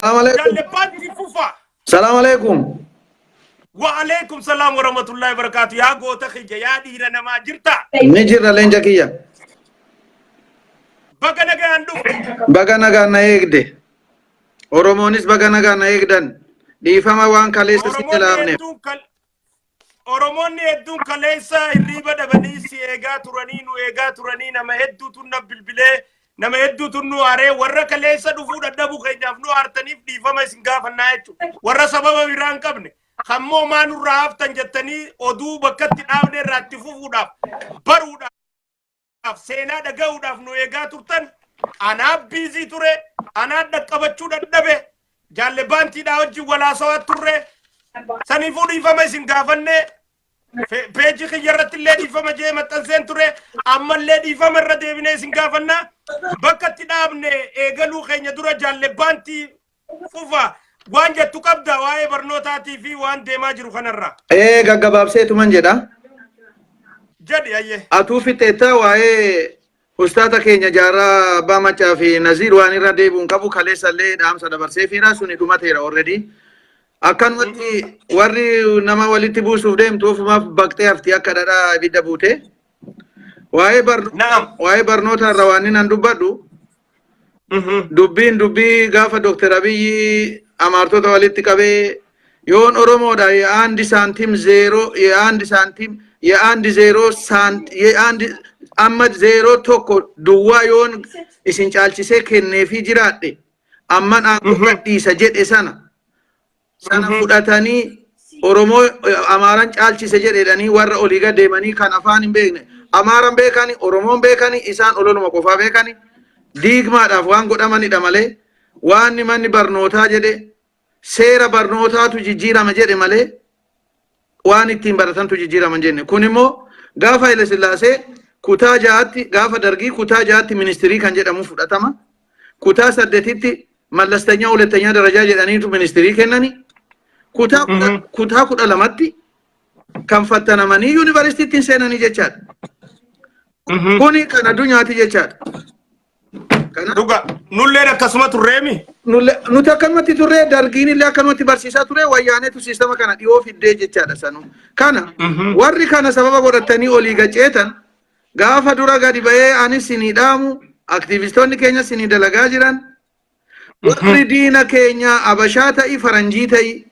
Salaam alaikum. Jaallebbaan itti fufaa. Salaam alaikum. Wa'aleekum salaam wa rahmatullahi wa barakaatu. Yaa goota kiyya yaa dhiira namaa jirta. Ni jirra leenca kiyya. Baga nagaan dhufte. Baga nagaan na eegde. Oromoonis baga nagaan na eegdan. Dhiifama waan kaleessa si Oromoon jalaafneef. hedduu kal- Oromoonni hedduun kaleessa hirriiba dhabanii si eegaa turanii nu eegaa turanii nama hedduutu na bilbilee nama hedduutu nu aaree warra kaleessa dhufuu dadhabuu keenyaaf nu aartaniif dhiifama isin gaafannaa jechuudha. Warra sababa biraa hin qabne kammoo maa nurraa haftan jettanii oduu bakkatti dhaabne irraa itti fufuudhaaf baruudhaaf. dhaaf seenaa dhaga'uudhaaf nu eegaa turtan anaaf biizii ture anaan dhaqqabachuu dadhabe jaalle baantiidhaa wajjin walaasawaa turre saniifuu dhiifama isin gaafanne fe- peejii kiyya irratti illee dhiifama jee maxxanseen ture ammallee dhiifama irra deebinee isin gaafanna bakka itti dhaabne eegaluu keenya dura jaalle baantii fufa waan jettu qabda waa'ee barnootaatii fi waan deemaa jiru kanarraa Ee gaggabaabseetuman jedha. jedhi ayyee Atuu fixeetta waa'ee ustaata keenya jaarraa abbaa macaa fi naziir waan irra deebi'uun qabu kaleessallee dhaamsa dabarseefiira suni dhumateera already. Akkanumatti warri nama walitti buusuuf deemtu ofumaaf baqxee hafti akka dhadhaa ibidda buute. Waa'ee barno- Naam. waa'ee barnoota irra waan inni nan dubbadhu Dubbiin dubbii gaafa Dooktar Abiyyi amaartota walitti qabee yoon Oromoodha ye'aandi saantiim zeeroo ye'aandi saantiim ye'aandi zeeroo saant ye'aandi amma zeeroo tokko duwwaa yoon isin caalchisee kenneefii jiraadhe amman aangoo gadhiisa jedhe sana sana Mhm. fudhatanii Oromoo eh, Amaaran caalchise jedhedhanii warra olii gad deemanii kan afaan hin beekne Amaaran beekani Oromoon beekani isaan ololuma qofaa beekani diigmaadhaaf waan godhamanidha malee waan manni barnootaa jedhe seera barnootaatu jijjiirama jedhe malee waan ittiin baratantu jijjiirama hin jenne. Kun immoo gaafa Haile Sillaasee kutaa ja'atti gaafa dargii kutaa ja'atti ministirii kan jedhamu fudhatama. Kutaa saddetitti mallastanyaa hulattanyaa darajaa jedhaniitu ministirii kennani. Kutaa kudha- Mhm. kutaa kudha lamatti kan fattanamanii yuunivarsiitiitti hin seenanii jechaadha. Mhm. Kuni kan addunyaati jechaadha. Kana Dhuga nulleen akkasuma turreemi. nulle- nuti akkanumatti turre dargiin illee akkanumatti barsiisaa ture wayyaaneetu siistama kana dhiyoo fiddee jechaadha sanu. Kana Mhm. warri kana sababa godhatanii olii gaceetan gaafa dura gadi ba'ee anis sinii dhaamu aktiivistoonni keenya sinii dalagaa jiran warri diina keenya abashaa ta'i faranjii ta'i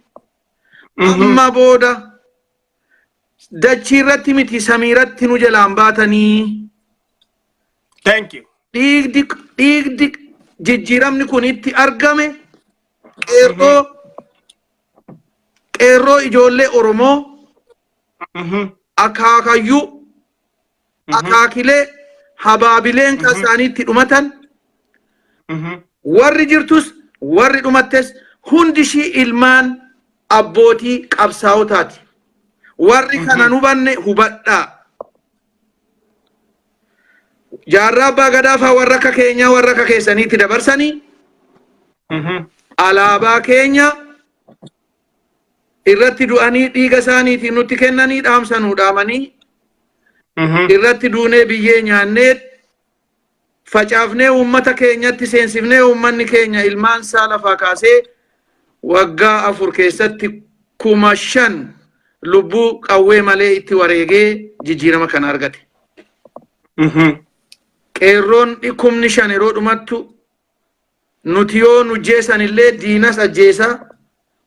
amma booda dachii irratti miti samiiratti nu jalaan baatanii Thank you. dhiigdi dhiigdi jijjiiramni kun itti argame qeerroo qeerroo ijoollee Oromoo Mhm. akaakayyuu akaakilee habaabileen kan isaanii itti dhumatan warri jirtus warri dhumattes hundi ishii ilmaan abbootii qabsaa'otaati. Warri kana hin hubanne hubadhaa. Jaarraa abbaa gadaafaa warra akka keenyaa warra akka keessaniitti dabarsanii alaabaa keenya irratti du'anii dhiiga isaaniitiin nutti kennanii dhaamsa nuu dhaamanii Mhm. irratti duunee biyyee nyaannee facaafnee uummata keenyatti seensifnee uummanni keenya ilmaan isaa lafaa kaasee waggaa afur keessatti kuma shan lubbuu qawwee malee itti wareegee jijjiirama kana argate. Mhm. Qeerroon kumni shan yeroo dhumattu nuti yoo nu jeesan illee diinas ajjeesa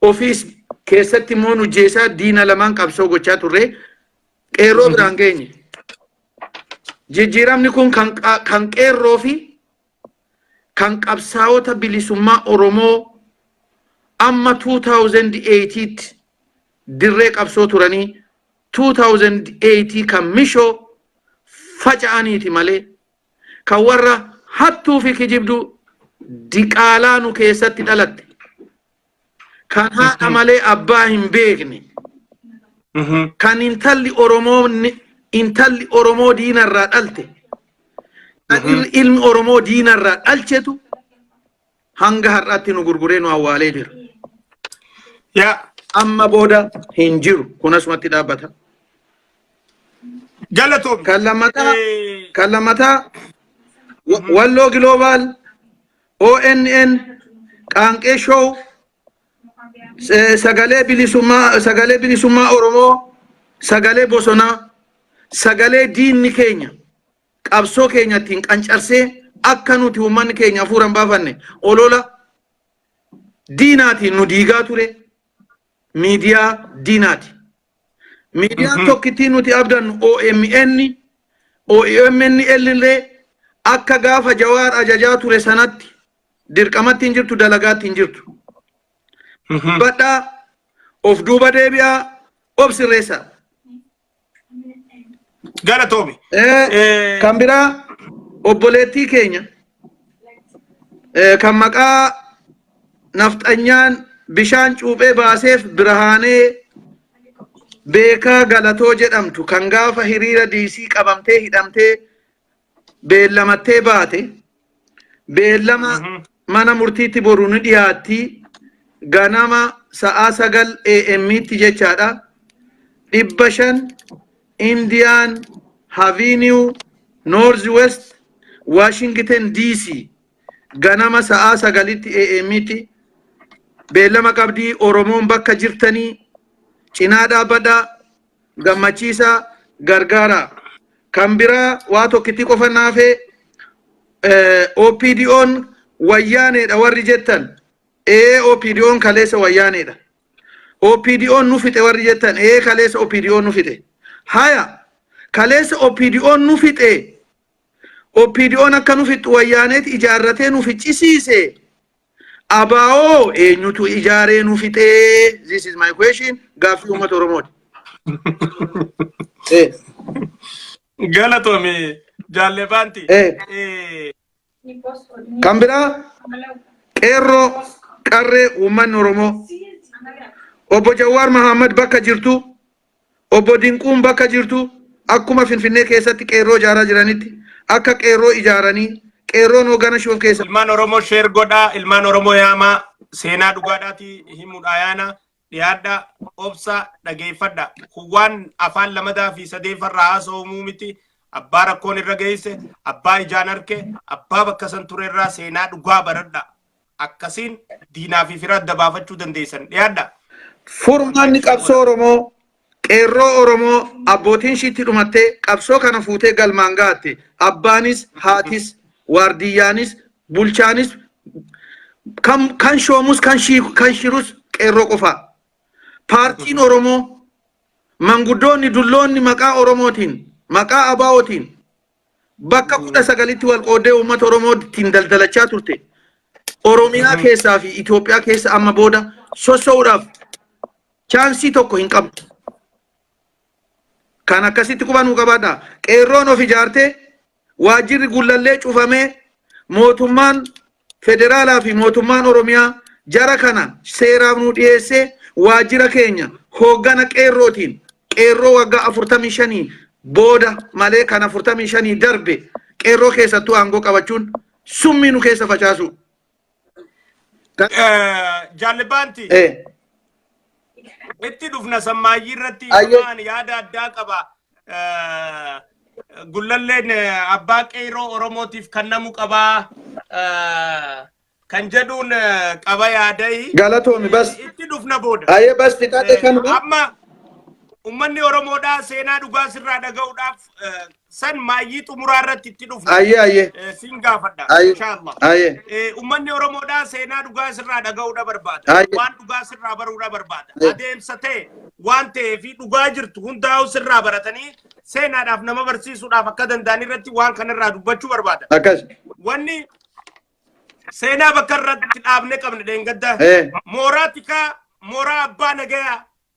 ofiis keessatti immoo nu jeesaa diina lamaan qabsoo gochaa turre qeerroo biraan geenye. Jijjiiramni kun kan qa- kan qeerroo fi kan qabsaa'ota bilisummaa Oromoo amma 2008tti dirree qabsoo turanii 2008 kan mishoo faca'aniiti malee kan warra hattuu fi kijibduu diqaalaa nu keessatti dhalatte kan haadha malee abbaa hin beekne kan intalli oromoo ni- intalli oromoo diinarraa dhalte kan il- ilmi oromoo diinarraa dhalchetu hanga har'aatti nu gurguree nu awwaalee jira. Yaa Amma booda hin jiru. Kun asumatti dhaabbata. galatoomi. Kan lammataa Eh, kan lammataa wa- Walloo Giloobaal, ONN, Qaanqee Show, eh, sagalee bilisummaa sagalee bilisummaa Oromoo, sagalee bosonaa, sagalee diinni keenya qabsoo keenya ittiin qancarsee akka nuti uummanni keenya hafuura hin baafanne olola diinaatiin nu diigaa ture miidiyaa diinaati. Miidiyaan Mhm. tokkittiin nuti abdannu OMN, OMN illee akka gaafa jawaar ajajaa ture sanatti dirqamatti hin jirtu dalagaatti hin jirtu. Mhm. Badhaa of duuba deebi'aa of sirreessaa. Galatoomi. Eh, kan biraa obboleettii keenya eh, kan maqaa nafxanyaan bishaan cuuphee baaseef birhaanee beekaa galatoo jedhamtu kan gaafa hiriira diisii qabamtee hidhamtee beellamattee baate beellama Mhm. mana murtiitti boru ni dhiyaatti ganama sa'aa sagal AM'tti jechaadha dhibba shan Indian Avenue North West Washington DC ganama sa'aa sagalitti AM'tti beellama qabdii Oromoon bakka jirtanii cinaa dhaabadhaa gammachiisaa gargaaraa. Kan biraa waa tokkitti qofa naafee OPDOn wayyaaneedha warri jettan ee OPDOn kaleessa wayyaaneedha. OPDOn nu fixe warri jettan ee kaleessa OPDOn nu fixe. Haya kaleessa OPDOn nu fixe OPDOn akka nu fixxu wayyaaneeti ijaarratee nu ficcisiise. Abaa'oo eenyutu ijaaree nu fixee? This is my question. Gaaffii uummata Oromooti. Eh, Galatoomi jaallee baanti. Eh. Eh, Kan biraa qeerroo qarree uummanni Oromoo obbo Jawaar Mahammad bakka jirtu Obbo Dinquun bakka jirtu akkuma Finfinnee keessatti qeerroo ijaaraa jiranitti akka qeerroo ijaaranii qeerroon hoogana shuuf keessa Ilmaan Oromoo sheer godhaa, ilmaan Oromoo yaamaa, seenaa dhugaadhaatii himuudhaa yaana, dhiyaadhaa, obsaa, dhageeffadha. Kun waan afaan lamadaa fi sadeeffarraa haasa'umuu miti. Abbaa rakkoon irra geesse, abbaa ijaan arke, abbaa bakka san turerraa seenaa dhugaa baradha. akkasiin diinaa fi fira adda baafachuu dandeessan dhiyaadha. Furmaanni qabsoo Oromoo qeerroo Oromoo abbootiin shiitti dhumattee qabsoo kana fuutee galmaan ga'atte abbaanis haatis waardiyyaanis bulchaanis kan kan shoomus kan shii- kan shirus qeerroo qofaa. Paartiin Oromoo manguddoonni dulloonni maqaa Oromootiin maqaa abaa'ootiin bakka kudha sagalitti wal qooddee uummata Oromoo ittiin daldalachaa turte Oromiyaa keessaa fi Itoophiyaa keessa amma booda sossoo'uudhaaf chaansii tokko hin qabdu. Kan akkasitti qubanuu qabaadha. Qeerroon of ijaartee waajjirri gullallee cufamee mootummaan Federaalaa fi Mootummaan Oromiyaa jara kana seeraaf nuu dhiyeessee waajjira keenya hooggana Qeerrootiin Qeerroo waggaa 45 booda malee kan 45 darbe Qeerroo keessattuu aangoo qabachuun summii nu keessa facaasuu. Jaallibaanti. Eh. itti dhufna sammaayyii irratti Ayyee. amma ani yaada addaa qaba. Eh, Gullalleen eh, abbaa qeerroo Oromootiif kennamu qaba. Eh, Kan jedhuun eh, qaba yaadayi. Galatoomi bas. Itti dhufna booda. Ayee bas fixadhe Eh, kanuma. Amma uummanni Oromoodhaa seenaa dhugaa sirraa dhaga'uudhaaf eh, san maayyii xumuraa irratti itti dhufna. Ayyee ayyee. Eh, Sin gaafadha. Aye. Inshaallah. Aye. Eh, Ummanni Oromoodhaa seenaa dhugaa sirraa dhaga'uudha barbaada. Aye. Waan dhugaa sirraa baruudha barbaada. Aye. Adeemsa ta'e waan ta'ee fi dhugaa jirtu hundaa'u sirraa baratanii seenaadhaaf nama barsiisuudhaaf akka danda'an irratti waan kanarraa dubbachuu barbaada. Akkas. Wanni seenaa bakka irratti dhaabne qabna dheengadda. Eh. Mooraa tikaa, mooraa abbaa nagayaa,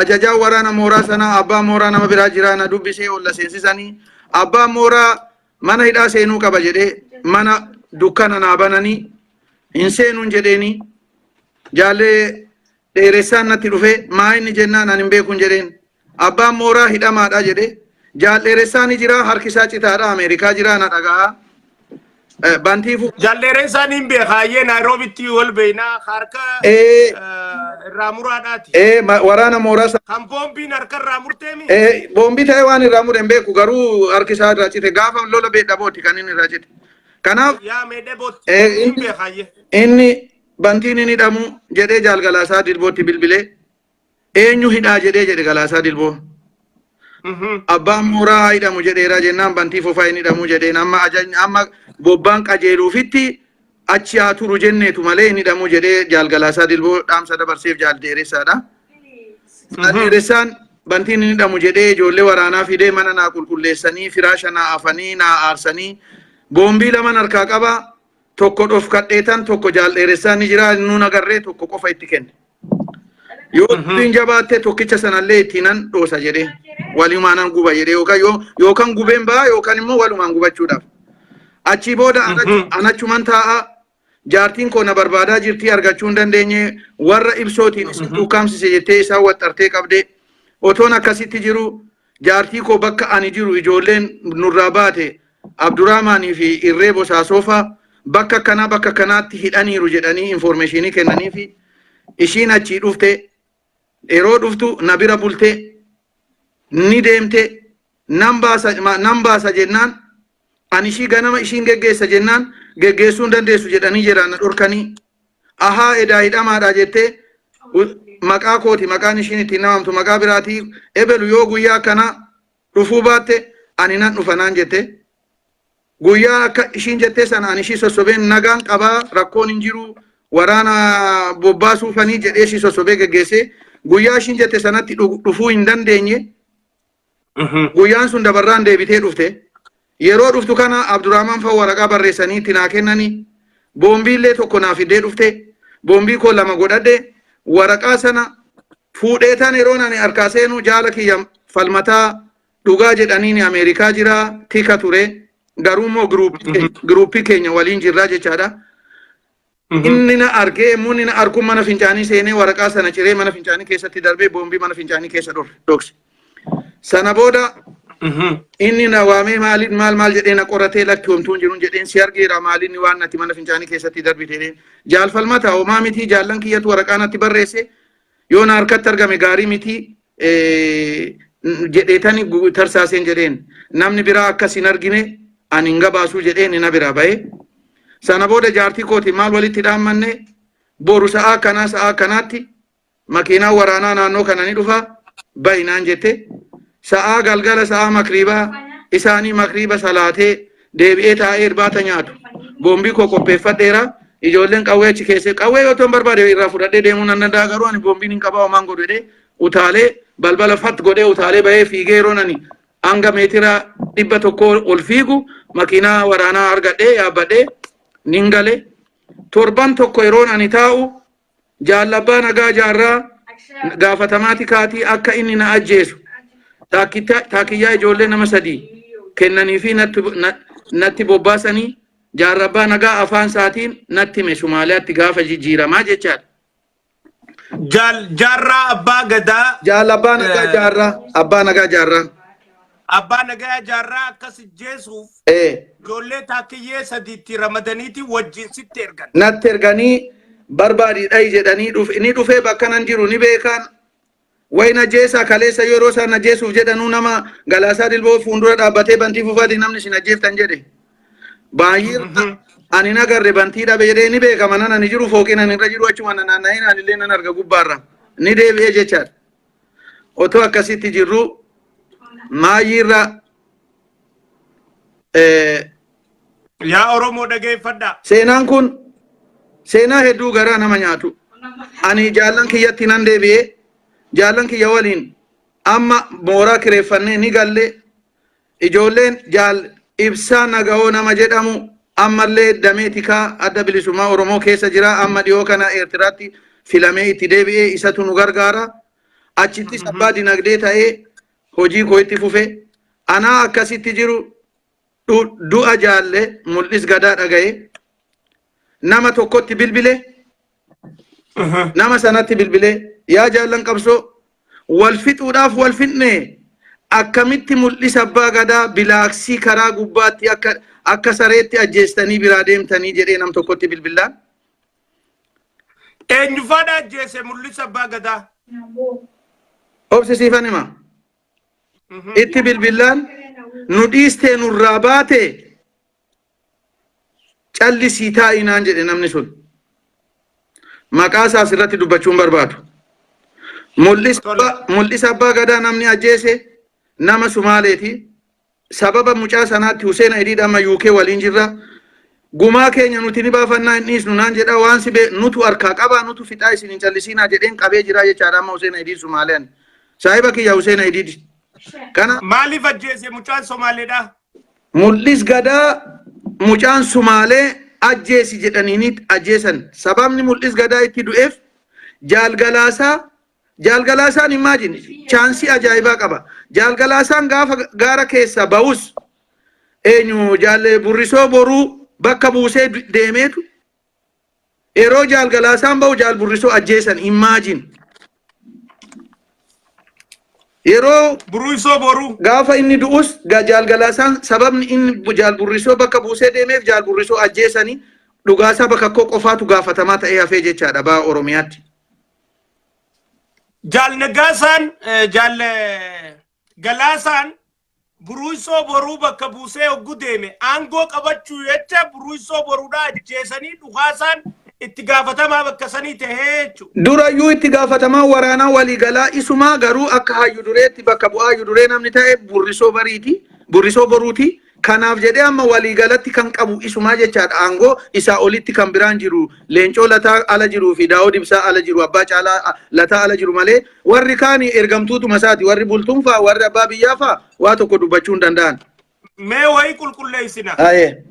ajajaa waraana mooraa sanaa abbaa mooraa nama biraa jiraa na dubbisee ol na seensisanii abbaan mooraa mana hidhaa seenuu qaba jedhee mana dukkana naa bananii hin seenuun jedheenii jaallee dheeressaan natti dhufee maa inni jennaan ani hin beekuun jedheen abbaan mooraa hidhamaadha jedhee jaal dheeressaan ni jiraa harki isaa citaadha ameerikaa jiraa na dhagahaa Eh, Bantiifuu. Jalleereessaa niin beekaayyee Naayiroobitti wal beeynaa harka Eh, eh, irraa muraadhaati. eh, ma- waraana mooraa sa- Kan boombiin harka irraa murteemi. eh, boombii ta'ee waan irraa mure hin beeku garuu harki isaa irraa cite gaafa lola beedha booti kan inni irraa cite. Kanaaf Yaa meedhee bootti eh, niin inni beekaayyee. inni bantiin inni hidhamu jedhee jaalgalaasaa dirbootti bilbilee Eenyu hidhaa jedhee jedhe Galaasaa Dilboo. Mhm. Abbaan mooraa haa hidhamu jedheera jennaan bantii fufaa hin hidhamu jedheen amma ajajni amma bobbaan qajeeluufitti achi haa turu jenneetu malee hin hidhamu jedhee jaal Galaasaa Dilboo dhaamsa dabarseef jaal dheeressaadha. Jaal Mhm. dheeressaan bantiin hin hidhamu jedhee ijoollee waraanaa fidee mana naa qulqulleessanii firaasha naa afanii naa aarsanii boombii laman harkaa qaba tokko dhofkadheetan tokko jaal dheeressaa ni jira nuun agarree tokko qofa itti kenne. Yoo Mhm. dubbiin jabaatte tokkicha sanallee ittiinan dhoosa jedhee walumaanan guba jedhee yookaan yoo yookaan gubeen ba'a yookaan immoo walumaan gubachuudhaaf. Achii booda anachu- Mhm. anachuman taa'a jaartiin koo na barbaadaa jirtii argachuu hin dandeenye warra ibsootiin isin Mhm. ukkaamsise jettee isaan waxxartee qabdee otoon akkasitti jiru Jaartii koo bakka ani jiru ijoolleen nurraa baate Abduraamaanii fi Irree Bosaasoo faa bakka akkanaa bakka akkanaatti hidhaniiru jedhanii infoormeeshiinii kennaniifi ishiin achii dhufte yeroo dhuftu na bira bulte ni deemte nan baasa ma- nan baasa jennaan Ani ishii ganama ishiin geggeessa jennaan geggeessuu hin dandeessu jedhanii jedhaan na dhorkanii. Ahaa edaa hidhamaadha jettee gu- maqaa kooti maqaan ishiin ittiin namamtu maqaa biraatii ebelu yoo guyyaa akkanaa dhufuu baatte ani nan dhufa naan jette. Guyyaa akka ishiin jettee sana ani ishii sossobeen nagaan qabaa rakkoon hin jiru waraana bobbaasuu fanii jedhee ishii sossobee geggeessee guyyaa ishiin jette sanatti dhu- dhufuu hin dandeenye. Guyyaan sun dabarraan deebitee dhufte. Yeroo dhuftu kana Abdurrahman fa'a waraqaa barreessanii itti naa kennanii boombii illee tokko naa fiddee dhufte. Boombii koo lama godhadhe. Waraqaa sana fuudhee tan yeroon ani harkaa seenu jaala kiyya falmataa dhugaa jedhaniin Ameerikaa jira tika ture. Garuu immoo giruuppii keenya waliin jirraa jechaadha. Inni na argee immoo inni na arguun mana fincaanii seenee waraqaa sana ciree mana fincaanii keessatti darbee boombii mana fincaanii keessa dhorre dhokse. Sana booda inni na waamee maaliin maal maal jedhee na qoratee lakki homtuun jiruun jedheen si argeera maaliin waan nati mana fincaanii keessatti darbite jedheen jaalfalmata homaa mitii jaallan kiyyatu waraqaa natti barreesse Yoo na harkatti argame gaarii miti jedheetani tarsaaseen jedheen namni biraa akkas hin argine ani hin gabaasuu jedheen na biraa ba'e. Sana booda jaartii kooti maal walitti dhaammanne boru sa'aa kanaa sa'aa kanaatti makiinaa waraanaa naannoo kana ni dhufa bayinaan jette sa'aa galgala sa'aa makriibaa isaanii makriiba salaatee deebi'ee taa'ee irbaata nyaatu. Boombii koo qopheeffadheera. Ijoolleen qawwee achi keessee qawwee yoo ta'an barbaade irraa fudhadhee deemuu nan danda'a garuu ani boombiin hin qabaa homaan godhu jedhee utaalee balbala fat godhee utaalee bahee fiigee yeroo nani hanga meetira dhibba tokkoo ol fiigu makiinaa waraanaa argadhee yaabbadhee nin gale. Torban tokko yeroon ani taa'u Jaal Abbaa Nagaa Jaarraa gaafatamaa tikaatii akka inni na ajjeesu taakkitta- taakkiyyaa ijoollee nama sadii kennanii fi natti na- natti bobbaasanii Jaarra Abbaa Nagaa afaan isaatiin natti hime Sumaaliyaatti gaafa jijjiiramaa jechaadha. Jaal Jaarraa Abbaa Gadaa Jaal Abbaa Nagaa Eh. Jaarraa Abbaa Nagaa Jaarraa. Abbaa Nagaya Jaarraa akka si jeesuuf Ee, ijoollee taakkiyyee sadiitti ramadaniiti wajjin sitti ergan. natti erganii barbaadii dhayi jedhanii dhuf- inni dhufee bakka nan jiru ni beekaan. Wayi na jeesaa kaleessa yeroo isaan na jeesuuf jedhanuu nama galaasaa dilboo fuuldura dhaabbatee bantii fufaati namni isin ajjeeftan jedhe. Baay'ee Mhm. ani na garre bantii dhabe jedhee ni beekama nan ani jiru fooqiin ani irra jiru achuma na naanna'ee naan illee nan arga gubbaarra ni deebi'ee jechaadha. Otoo akkasitti jirruu maayyiirra Yaa Oromoo dhageeffadhaa. seenaan kun seenaa hedduu garaa nama nyaatu. Ani jaallan kiyyatti nan deebi'ee jaallan kiyya waliin amma mooraa kireeffannee ni galle Ijoolleen Jaal Ibsaa Nagawoo nama jedhamu ammallee damee tikaa adda bilisummaa Oromoo keessa jira. Amma dhiyoo kana Eertiraatti filamee itti deebi'ee isatu nu gargaara. Achittis abbaa dinagdee ta'ee hojii koo itti fufe. Anaa akkasitti jiru du- du'a jaalle mul'is gadaa dhaga'e. Nama tokkotti bilbile Aha. nama sanatti bilbilee yaa jaallan qabsoo wal fixuudhaaf wal fixne akkamitti mul'isa abbaa gadaa bilaaksii karaa gubbaatti akka akka sareetti ajjeestanii biraa deemtanii jedhee nam tokkotti bilbillaan Eenyufaadha ajjeese mul'isa abbaa gadaa. obsi siifan hima Mhm. itti bilbillaan nu dhiistee nurraa baate callisii taa'i naan jedhe namni sun. Maqaa isaa asirratti dubbachuu hin barbaadu. Mul'isa Tole. abbaa- Mul'isa abbaa gadaa namni ajjeese nama Sumaaleeti. Sababa mucaa sanaatti Huseen Ayidiid amma UK waliin jirra. Gumaa keenya nuti ni baafannaa hin dhiisnu naan jedha waan si bee- nutu harkaa qabaa nutu fixaa isin hin callisiinaa jedheen qabee jira jechaadha amma Huseen Ayidiid Sumaalean. Saahiba kiyya Huseen Ayidiid. Kana Maaliif ajjeese mucaan Somaaleedha? Mul'is Gadaa mucaan Sumaalee ajjeesi jedhaniiniit ajjeesan. Sababni Mul'is Gadaa itti du'eef Jaal Galaasaa Jaal Galaasaan imagine chaansii ajaa'ibaa qaba. Jaal Galaasaan gaafa gaara keessaa ba'us eenyu Jaal Burrisoo Boruu bakka buusee deemeetu Yeroo Jaal Galaasaan ba'u Jaal Burrisoo ajjeesan imagine. Yeroo Buruisoo boruu. gaafa inni du'us ga- Jaal Galaasaan sababni inni bu- Jaal Burrisoo bakka buusee deemeef Jaal Burrisoo ajjeesanii dhugaasaa bakka koo qofaatu gaafatamaa ta'ee hafee jechaadha ba'a Oromiyaatti. Jaal Nagaasaan eh, Jaal eh, Galaasaan Buruuysoo Boruu bakka buusee oggu deeme aangoo qabachuu jecha Buruuysoo Boruudha ajjeesanii dhukaasaan itti gaafatamaa bakka sanii tahee jechu. Durayyuu itti gaafatamaan waraanaa waliigalaa isumaa garuu akka haayyu dureetti bakka bu'aa hayyu duree namni tahe Burrisoo Bariiti, Burrisoo Boruuti. Kanaaf jedhee amma waliigalatti kan qabu isumaa jechaadha aangoo isaa olitti kan biraan jiru Leencoo Lataa ala jiruufi Daawud Ibsaa ala jiru Abbaa Caalaa Lataa ala jiru malee Warri kaan ergamtuutuma isaati. Warri bultuun fa'a, warri abbaa biyyaa fa'a waa tokko dubbachuu hin danda'an. Mee wayii qulqulleessina. Ayee.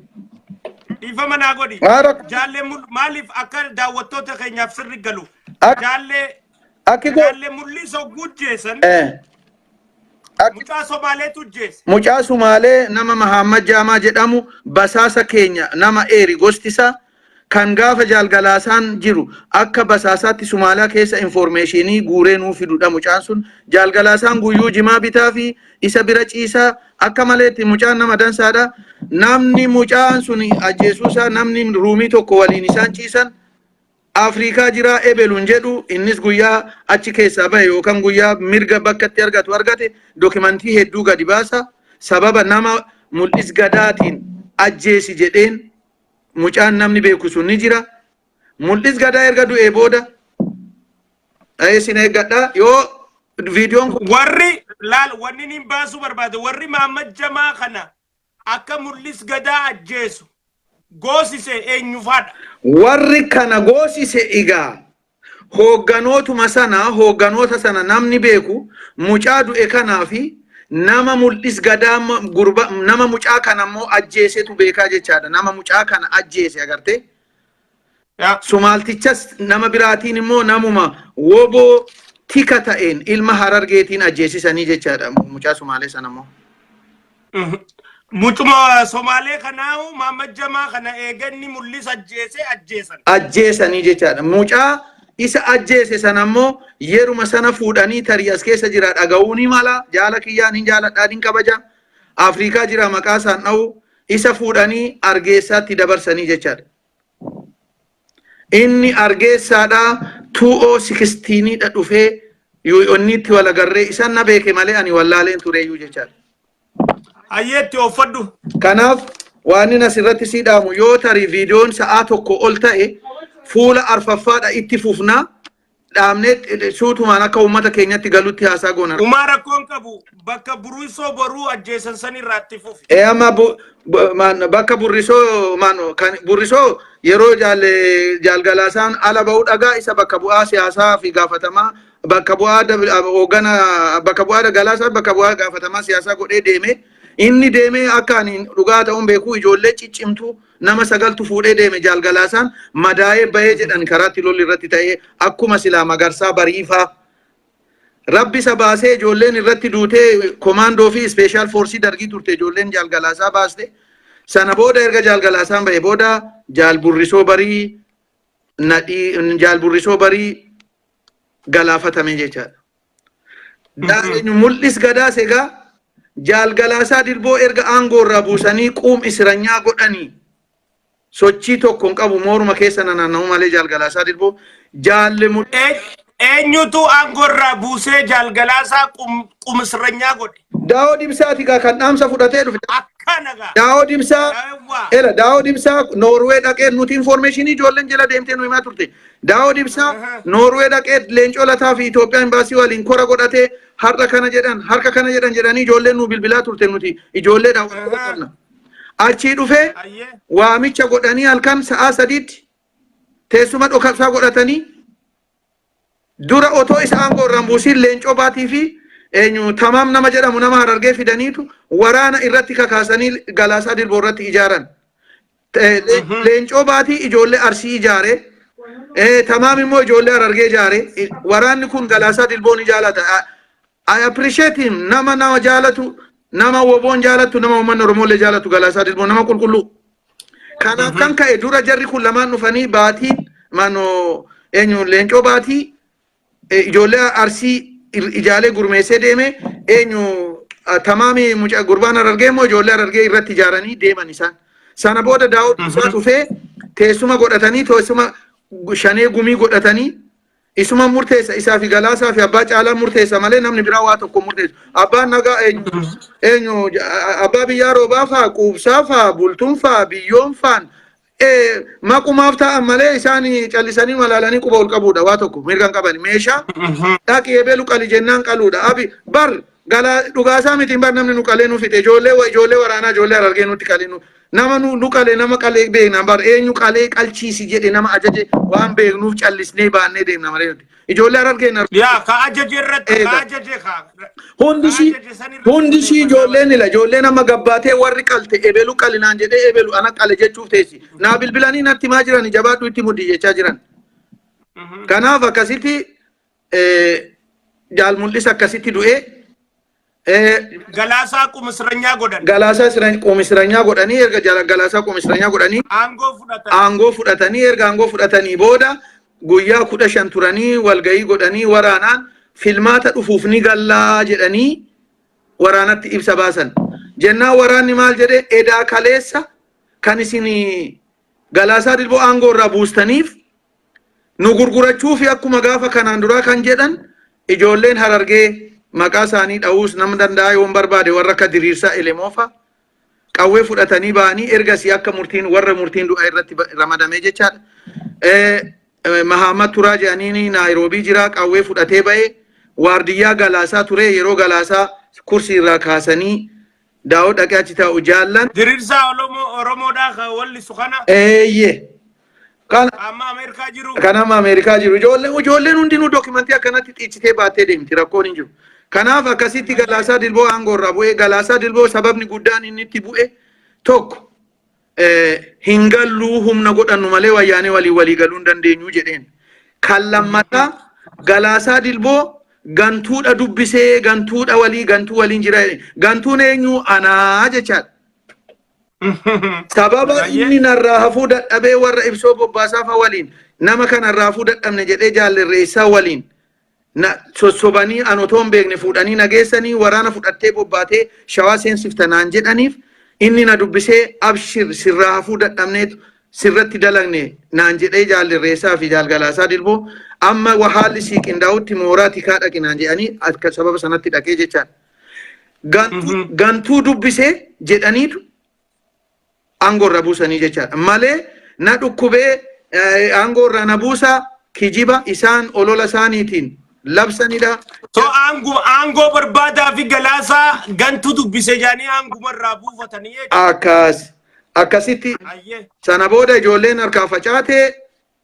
Dhiifama naa godhi. Maa rakkoon- Jaallee mul- maaliif akka daawwattoota keenyaaf sirri galu. Ak- Jaallee Akki koo. jaallee mul'isoo gujjeessan Eh. Akki mucaa Somaaleetu jeesse. mucaa Sumaalee nama Mahaamad Jaamaa jedhamu basaasa keenya nama eeri gosti isaa Kan gaafa Jaal Galaasaan jiru akka basaasaatti Sumaalaa keessa infoormeeshiinii guuree nuu fidudha mucaan sun. Jaal Galaasaan guyyuu jimaa bitaafi isa bira ciisa. Akka maleetti mucaan nama dansaadha. Namni mucaan sun ajjeesuu isaa namni ruumii tokko waliin isaan ciisan Afriikaa jira ebelu hin jedhu innis guyyaa achi keessaa bahe yookaan guyyaa mirga bakka itti argatu argate dookimantii hedduu gadi baasa. Sababa nama mul'is gadaatiin ajjeesi jedheen mucaan namni beeku sun ni jira. Mul'is gadaa erga du'ee booda eh, isin eeggadha yoo viidiyoon kun warri laal wanni niin baasuu barbaade warri Mahammad Jamaa kana akka mul'is gadaa ajjeesu goosise eenyufaadha. warri kana goosise egaa Hoogganootuma sana hoogganoota sana namni beeku mucaa du'e kanaa fi nama mul'is gadaa ma- gurba nama mucaa kana immoo ajjeesetu beekaa jechaadha. Nama mucaa kana ajjeese agartee. Yaa. Sumaaltichas nama biraatiin immoo namuma woboo tika ta'een ilma harargeetiin ajjeesisanii jechaadha mucaa sumaalee sana immoo. Mucuma Somaalee kanaa Maammad Jamaa kana eeganni mul'isa ajjeesee ajjeesan. Ajjeesanii jechaadha. Mucaa isa ajjeese sana ammoo yeruma sana fuudhanii tarii as keessa jira dhaga'uu ni mala. Jaala kiyyaan hin jaaladhaa hin kabaja. Afrikaa jira maqaa isaan dha'u. Isa fuudhanii argeessaatti dabarsanii jechaadha. Inni argeessaadha 2016 dha dhufee UN'tti wal agarree isan na beeke malee ani wallaaleen tureeyyuu jechaadha. Hayyeetti ooffadhu. Kanaaf waan inni asirratti sii dhaamu yoo tarii viidiyoon sa'aa tokko ol ta'e fuula arfaffaadha itti fufnaa dhaabnee eh, suutumaan akka uummata keenyatti galutti haasaa goona. Umaa rakkoon qabu bakka buruisoo boruu ajjeesan san irraa itti fufi. Ee amma bu- bu- maan- bakka burrisoo maan kan burrisoo yeroo jaal jaalgalaasaan ala ba'uu dhagaa isa bakka bu'aa siyaasaa fi gaafatamaa bakka bu'aa dab- ab- hoogana bakka bu'aa galaasaa bakka bu'aa gaafatamaa siyaasaa godhee deeme inni deemee akka ani dhugaa ta'uun beekuu ijoollee ciccimtuu Nama sagaltu fuudhee deeme Jaal Galaasaan madaa'ee bahee jedhan karaatti lolli irratti ta'ee akkuma silaa Magarsaa Bariifaa Rabbi isa baasee ijoolleen irratti duutee komaandoo fi ispeeshaal foorsii dargii turte ijoolleen Jaal Galaasaa baaste. Sana booda erga Jaal Galaasaan bahee booda Jaal Burrisoo Barii nadhii Jaal Burrisoo Barii galaafatame jechaadha. Daa'inu mul'is gadaas egaa jaal galaasaa dirboo erga aangoo irraa buusanii quum isiranyaa godhanii sochii tokko hin qabu mooruma keessa nanaanna'u malee jaal galaasaa dirboo jaalle mul'is Eenyutu aangoo irraa buusee jaal galaasaa qum- qumisranyaa godhe? Daawoo Dibsaati gaa kan dhaamsa fudhatee dhufe. Akkana gaa. Daawoo Dibsaa Daawwaa. Ela Daawoo Dibsaa Noorwee dhaqee nuti infoormeeshinii ijoolleen jala deemtee nu himaa turte. Daawoo Dibsaa Aha. Noorwee dhaqee leencoo lataa fi Itoophiyaa imbaasii waliin kora godhatee har'a kana jedhan harka kana jedhan jedhanii ijoolleen nu bilbilaa turte nuti ijoollee Aha. daawwatu. Achii dhufee Ayyee. waamicha godhanii halkan sa'aa sadiitti teessuma dhokabsaa godhatanii dura otoo isa aangoo irraa hin buusiin Leencoo Baatii fi eenyu Tamaam nama jedhamu nama Harargee fidaniitu waraana irratti kakaasanii Galaasaa Dilboo irratti ijaaran. Eh, Le- Mhm. Leencoo Baatii ijoollee Arsii ijaare. Eh, Tamaam immoo ijoollee Harargee ijaare. I- Waraanni kun Galaasaa Dilboo ni jaalata. Ah, I appreciate him nama nama jaalatu nama woboon jaalatu nama uummanni Oromoolee jaalatu Galaasaa Dilboo nama qulqulluu. Kanaaf Mhm. kan ka'e dura jarri kun lamaan dhufanii baatiin maanoo eenyu leencoo baatii eh, ijoollee arsii ir- ijaalee gurmeessee deeme eenyu ah, tamaami mucaa gurbaan arargee immoo ijoollee arargee irratti ijaaranii deeman isaan. Sana booda daawwatu isaa Mhm. dhufee teessuma godhatanii teessuma gu- shanee gumii godhatanii Isuman murteessa isaa fi galaasaa fi abbaa caalaan murteessa malee namni biraa waa tokko murteessu. Abbaan nagaa eenyu eenyu abbaa biyyaa roobaa faa quubsaa faa bultuun faa biyyoon faan maqumaaf taa'an malee isaan callisanii malaalanii quba ol qabuudha waa tokko mirga hin qaban meeshaa dhaqi ebeelu qali jennaan qaluudha abi bar Galaa dhugaasaa mitiin bar namni nu qalee nu fixe ijoollee wa- ijoollee waraanaa ijoollee harargee nutti qalee nu nama nu nu qalee nama qalee beekna bar eenyu qalee qalchiisi jedhe nama ajaje waan beeknuuf callisnee baannee deemna malee nuti ijoollee harargee hin arginu. Yaa ka ajaje irratti ka Eegaa. ajaje ka. Hundi ishii ka ajaje san irratti hundi ishii xiyyeeffannaa ijoolleen ila ijoolleen amma gabbaatee warri qalte ebelu qalinaan jedhee ebelu ana qale jechuuf teessi naa bilbilanii natti maa jirani jabaadhu itti muddi jechaa jiran. Mhm. Kanaaf akkasitti jaal mul'isa akkasitti du'ee Galaasaa qumisranyaa godhan. galaasaa isra- qoomisranyaa godhanii erga jala- galaasaa qoomisranyaa godhanii Aangoo fudhatan. aangoo fudhatanii erga aangoo fudhatanii booda guyyaa kudha shan turanii walgahii godhanii waraanaan filmaata dhufuuf ni gallaa jedhanii waraanatti ibsa baasan. Jennaan waraanni maal jedhe edaa kaleessa kan isin galaasaa dilboo aangoo irraa buustaniif nu gurgurachuufi akkuma gaafa kanaan duraa kan jedhan ijoolleen harargee maqaa isaanii dha'uus nam danda'a yoon barbaade warra akka diriirsaa elemoofaa qawwee fudhatanii ba'anii ergasii akka murtiin warra murtiin du'a irratti ba- ramadamee jechaadha. Eh, eh, Mahaamad Turaa jedhanii Naayiroobii jira qawwee fudhatee ba'ee waardiyyaa galaasaa ture yeroo galaasaa kursii irraa kaasanii Daawoo dhaqee achi taa'u jaallan. Dirirsaa Olomoo Oromoodhaa kan wallisu kana Eeyyee. Kan amma Ameerikaa jiru. kan amma Ameerikaa jiru ijoolleen ijoolleen hundinuu dookimantii akkanatti xiichitee baattee deemti rakkoon hin jiru. Kanaaf akkasitti Galaasaa Dilboo aangoo irraa bu'ee Galaasaa Dilboo sababni guddaan inni itti bu'e tokko hin galluu humna godhannu malee wayyaanee waliin walii galuu hin dandeenyu jedheen. Kan lammataa Galaasaa Dilboo gantuudha dubbisee gantuudha walii gantuu waliin jira jedhe. Gantuun eenyu anaa jechaadha. Sababa Baay'ee. inni narraa hafuu dadhabee warra ibsoo bobbaasaa fa waliin nama kanarraa hafuu dadhabne jedhee jaallerreessaa waliin na sossobanii an otoo hin beekne fuudhanii na geessanii waraana fudhattee bobbaatee shawaa seensifta naan jedhaniif inni na dubbisee abshir sirraa hafuu dadhabneetu sirratti dalagne naan jedhee jaalli irreessaa fi jaalgalaasaa dilboo amma wa- haalli sii qindaa'utti mooraa tikaa dhaqi naan jedhanii akka sababa sanatti dhaqee jechaan gantuu Mhm. gantuu dubbisee jedhaniitu aangoo irraa buusanii jechaadha malee na dhukkubee eh, aangoo irraa na buusaa kijiba isaan olola isaaniitiin labsanidha. So aangoo aangoo barbaadaa fi galaasaa gantu dubbise jaanii aanguma irraa buufatanii jechuudha. Akkas akkasitti Ayyee. sana booda ijoolleen harkaa facaatee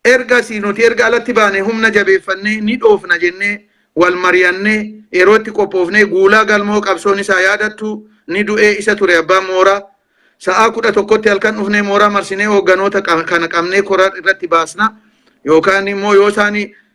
Ergasii nuti erga alatti baanee humna jabeeffannee ni dhoofna jennee wal mariyannee yeroo itti qophoofnee Guulaa Galmoo qabsoon isaa yaadattuu ni du'ee isa ture abbaan mooraa. Sa'aa 11tti halkan dhufnee mooraa marsinee hoogganoota kana qabnee kora irratti baasna yookaan immoo yoo isaan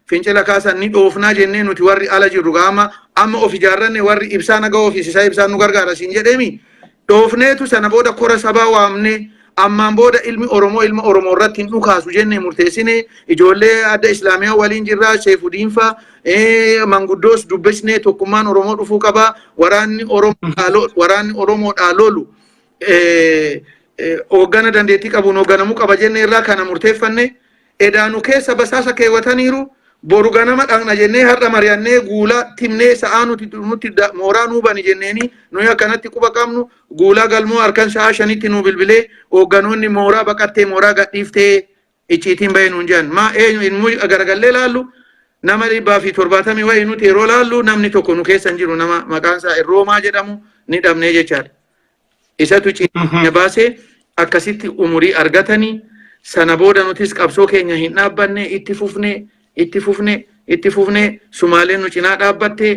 fincila kaasan ni dhoofnaa jennee nuti warri ala jirru gaama amma of ijaarranne warri ibsaa naga ofiis isaa ibsaan nu gargaara siin jedheemi Dhoofneetu sana booda kora sabaa waamnee ammaan booda ilmi Oromoo ilma Oromoo irratti hin dhukaasu jennee murteessinee ijoollee adda Islaamiyaa waliin jirraa Seefudiinfaa eh, manguddoos dubbisnee tokkummaan Oromoo dhufuu qabaa waraanni Oromoodhaa lo- waraanni Oromoodhaa lolu eh, eh, hooggana dandeettii qabuun hoogganamuu qaba jennee irraa kana murteeffanne Edaa nu keessa basaasa keewwataniiru, boru ganama dhaqna jennee har'a mari'annee guulaa timnee sa'aa nuti nutti da- mooraa nuu bani jenneenii nuyi akkanatti quba qabnu guulaa galmoo harkan sa'aa shanitti nuu bilbilee hoogganoonni mooraa baqattee mooraa gadhiiftee icciitiin bahee nuun jedhan. Maa eenyu hin muu garagallee laallu nama dhibbaa fi torbaatamii wayii nuti yeroo laallu namni tokko nu keessa hin jiru nama maqaan isaa Irroomaa jedhamu ni dhabnee jechaadha. Isatu ciina baase akkasitti umurii argatanii sana booda nutis qabsoo keenya hin dhaabbanne itti fufne itti fufne itti fufne sumaaleen nu cinaa dhaabbatte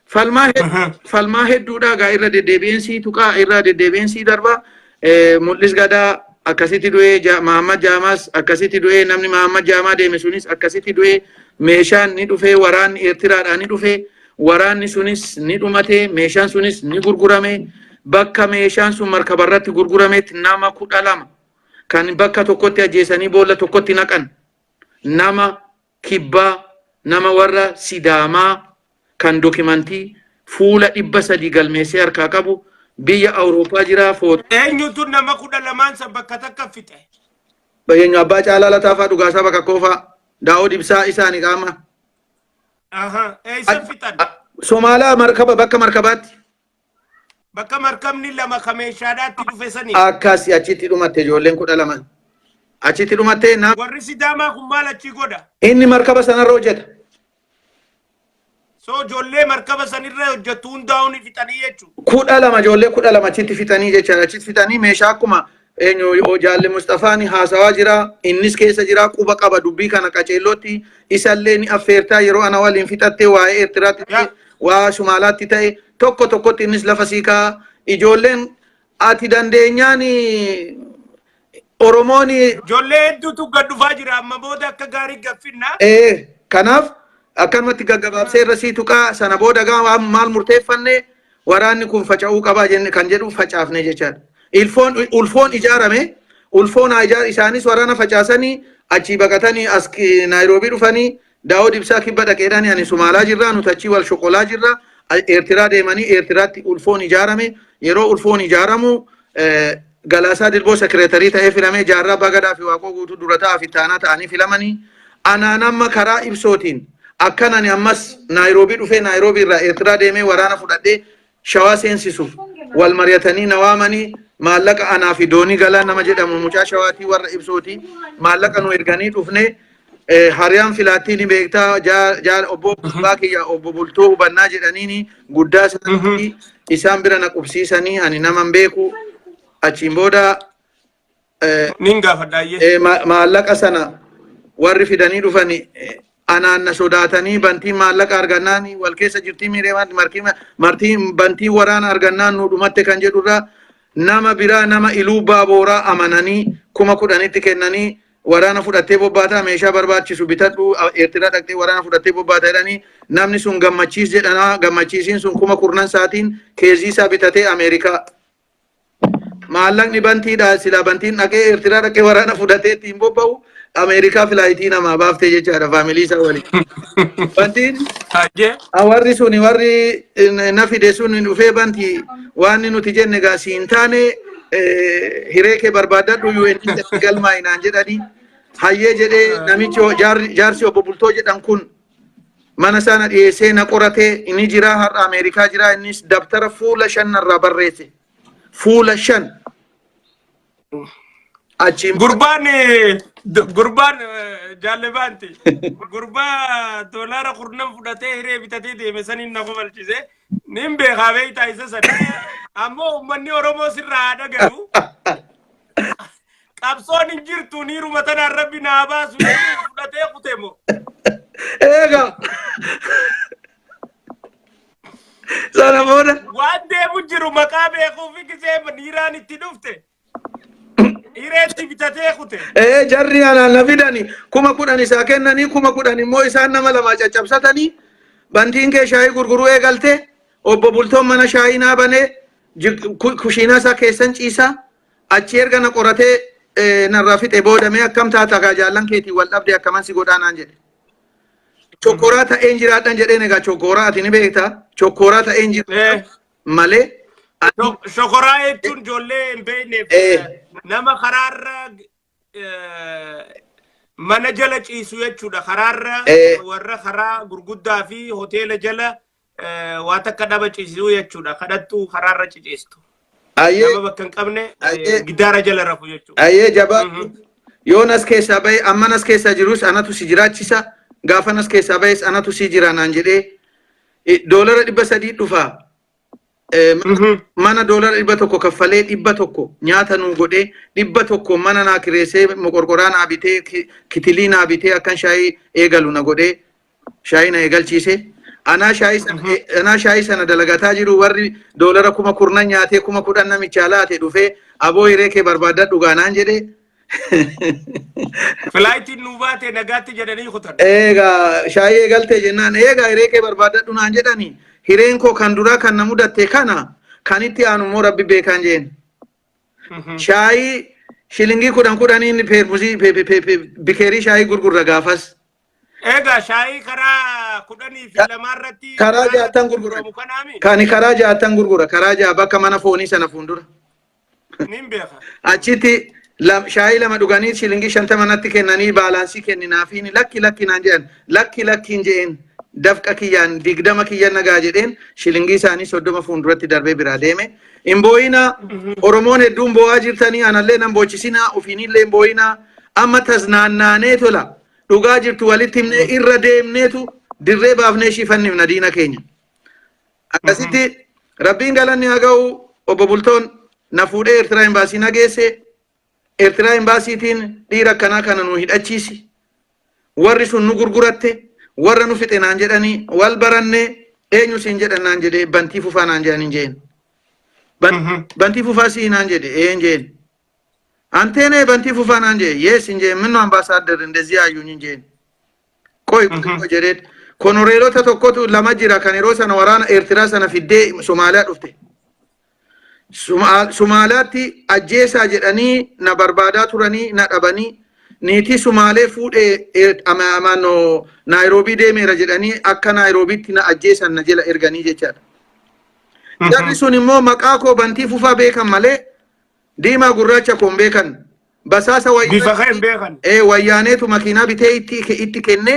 falmaa hed- falmaa hedduudhaa gaa irra deddeebi'een sii tuqaa irra deddeebi'een sii darbaa Eh, mul'is gadaa akkasitti du'ee Ja- Mahammad Jaamaas akkasitti du'ee namni Mahammad Jaamaa deeme sunis akkasitti du'ee meeshaan ni dhufee waraanni Eertiraadhaa ni dhufee Waraanni sunis ni dhumate, meeshaan sunis ni gurgurame. Bakka meeshaan sun markaba irratti gurgurametti nama kudha lama kan bakka tokkotti ajjeesanii boolla tokkotti naqan. Nama kibbaa, nama warra Sidaamaa kan dokimantii fuula dhibba sadii galmeessee harkaa qabu biyya Awurooppaa jira foot. Eenyutu nama kudha lamaan san bakka takka fixe? Bayyeenyu abbaa caalaa lataafaa dhugaasaa bakka koofaa daawoo dibsaa isaani qaama. Aha, eessan fixan? Somaalaa markaba bakka markabaatti Bakka markabni lama ka meeshaadhaatti dhufe sanii. akkas achitti dhumatte ijoolleen kudha lama achitti dhumatte na Warri Sidaamaa kun maal achii godha? inni markaba sanarra hojjeta. So ijoollee markaba sanirra hojjettu hundaa'uun fixanii jechuudha. kudha lama ijoollee kudha lama achitti fixanii jechaadha achitti fixanii meeshaa akkuma Eenyu o- jaalli Musxafaan haasawaa jira. Innis keessa jira. Quba qaba dubbii kana qaceellootti. Isallee ni affeertaa yeroo ana waliin fixattee waa'ee Eertiraatti ta'e, Yaa. waa Sumaalaatti ta'e tokko tokkotti innis lafa sii kaa'a. Ijoolleen ati dandeenyaan Oromoon Ijoollee hedduutu gad dhufaa jira amma booda akka gaarii gaffinna. ee kanaaf akkanumatti gaggabaabsee irra sii tuqaa sana booda gaa waan maal murteeffanne Waraanni kun faca'uu qaba jenne kan jedhu facaafne jechaadha. Ilfoon ulfoon ijaarame ulfoon haa ijaar isaanis waraana facaasanii achii baqatanii as ki- Naayiroobii dhufanii Daawud Ibsaa kibba dhaqeedhaan ani Sumaalaa jirraa nuti achii wal shoqolaa jirra A- Eertiraa deemanii Eertiraatti ulfoon ijaarame yeroo ulfoon ijaaramu eh, Galaasaa Dilboo Sekireetarii ta'ee filamee Jaarraa Abbaa Gadaa fi Waaqoo Guutuu dura ta'aa fi ittaanaa ta'anii filamanii anaan amma karaa ibsootiin akkan ani ammas Naayiroobii dhufee Naayiroobii irraa Eertiraa deemee waraana fudhadhee shawaa seensisuuf wal mari'atanii na waamanii maallaqa anaa fi doonii galaa nama jedhamu mucaa shawaatii warra ibsootii maallaqa nu erganii dhufnee Eh, Hariyaan filaattii ni beektaa jaa- jaal obbo Bulbaa kiyya obbo Bultoo hubannaa jedhaniini guddaa isaanii isaan bira na qubsiisanii ani naman beeku achiin booda eh, Nin gaafadhaayyee. eh, ma- maallaqa sana warri fidanii dhufani eh, anaan na sodaatanii bantiin maallaqa argannaan wal keessa jirtii miireemaatti markii martii bantii waraana argannaan nu dhumatte kan jedhurraa nama biraa nama iluu baabooraa amananii kuma kudhanitti kennanii waraana fudhattee bobbaataa meeshaa barbaachisu bitadhu eertiraa dhaqxee waraana fudhattee bobbaata jedhanii namni sun gammachiis jedhanaa gammachiisiin sun kuma kurnan saatiin keezii isaa bitatee ameerikaa maallaqni bantiidha silaa bantiin dhaqee eertiraa dhaqee waraana fudhatee ittiin bobba'u ameerikaa filaayitii namaa baaftee jechaadha faamilii isaa waliin bantiin Hayyee. warri suni warri na fide suni dhufee banti waan nuti jenne gaa siin taane hiree kee barbaadadhu UN keessatti galmaa'i naan jedhanii hayyee jedhee namichi ho- jaarri- jaarsi obbo Bultoo jedhan kun mana isaa na dhiyeessee na qoratee inni jiraa har'a Ameerikaa jiraa innis dabtara fuula shan narraa barreesse fuula shan achiin Gurbaan eh, d- gurbaan eh, jaallebaanti gurbaa doolaara kurnan fudhatee hiree bitatee deeme saniin na kofalchise Nin beekaa beektaa isa sana. Ammoo uummanni Oromoo sirraa haa dhagayu. Qabsoon hin jirtu niiruma tanaan rabbi naa baasu jedhee fudhatee kute moo. Eega. Sana booda. Waan deemu jiru maqaa beekuu fi gisee niiraan itti dhufte. Hireetti bitatee kute. Ee jarri anaan na fidani kuma kudhan isaa kennanii kuma kudhan immoo isaan nama lamaa caccabsatanii bantiin kee shaayii gurguruu eegalte obbo Bultoon mana shaayii naa banee jik- ku- kushiinaa isaa keessan ciisaa achi erga na qoratee eh, narraa fixe booda mee akkam taata gaa jaallan keetiin wal dhabde akkaman si godhaa naan jedhe. Chokkoraa ta'een jiraadhan jedheen egaa chokkoraa ati ni beekta chokkoraa ta'een jiraadhan. Eh. malee Shok- Shokoraa jechuun ijoollee hin beekneef Eh. nama karaarra eh, mana jala ciisu jechuudha. Karaarra Eh. warra karaa gurguddaa fi hoteela jala eh, waa takka dhaba ciisuu jechuudha. Kadhattuu karaarra ciciistu. ayyee Nama bakka hin qabne eh, Ayyee. gidaara jala rafu jechuudha. ayyee jabaa Mhm. yoon as keessaa bahe amman as keessaa jirus anatu si jiraachisa gaafan as keessaa bahes anatu si jira naan jedhee Doolara dhibba sadii dhufa. Mana doolara dhibba tokko kaffalee dhibba tokko nyaata nuu godhee dhibba tokko mana naa kireessee moqorqoraa naa bitee kitilii naa bitee akkan shaayii eegalu na godhee shaayii na eegalchiise. Anaa shaayii sana anaa shaayii sana dalagataa jiru warri doolara kuma kurnan nyaatee kuma kudhan namichaa laate dhufee aboo hiree kee barbaadadhu gaanaan jedhee Filaayitiin nuu baate nagaatti jedhanii kutan. Eegaa shaayii eegaltee jennaan eegaa hiree kee barbaadadhu naan jedhani hireen koo kan duraa kan na mudatte kana kan itti aanu immoo rabbi beekaan jeen. Shaayii shilingii kudhan kudhanii inni peermusii pe- pe- pe- pe- bikeerii shaayii gurgurra gaafas. Egaa shaayii karaa kudhanii fi Ka- lamaa irratti karaa jaattan gurgurra. gurguramu kanaami. Kani karaa jaattan gurgura karaa jaa bakka mana foonii sana fuuldura. Nin beeka. achitti lam- shaayii lama dhuganii shilingii shantama natti kennanii baalaansii kenninaafiin lakki lakki naan jedhan lakki lakkiin jedheen dafqa kiyyaan digdama kiyya nagaa jedheen shilingii isaanii soddoma fuulduratti darbee biraa deeme hin boo'inaa oromoon hedduun boo'aa jirtanii anallee nan boochisinaa ofiinillee hin boo'inaa amma tasnaannaanee tola dhugaa jirtu walitti himnee irra deemneetu dirree baafnee ishii fannifna diina keenya. Akkasitti rabbiin galanni haa ga'u obbo Bultoon na fuudhee Eertiraa Imbaasii na geesse. Eertiraa Imbaasiitiin dhiira akkanaa kana nu hidhachiisi. Warri sun nu gurguratte warra nu fixe naan jedhanii wal baranne eenyu siin jedhan naan jedhee bantii fufaa naan jedhan hin jeen. Ban- Bantii fufaa sii naan jedhe ee hin jeen. Anteenee bantii fufaa naan jedhe yees hin jeen minno ambaasaadder indezii ayyuun hin jeen. Qoy xiqqoo jedheen. Konoreelota tokkotu lama jira kan yeroo sana waraana Eertiraa sana fiddee Somaaliyaa dhufte. Suma- Somaaliyaatti ajjeesaa jedhanii na barbaadaa turanii na dhabanii niitii Somaalee fuudhee Eer- ama- ama- no- Naayiroobii deemeera jedhanii akka Naayiroobiitti na ajjeesan na jela erganii jechaadha. Jarri sun immoo maqaa koo bantii fufaa beekan malee Diimaa gurraacha koo hin beekan. Basaasa wayyaa- Bifa kee hin beekan. Ee, wayyaaneetu makiinaa bitee itti, itti kenne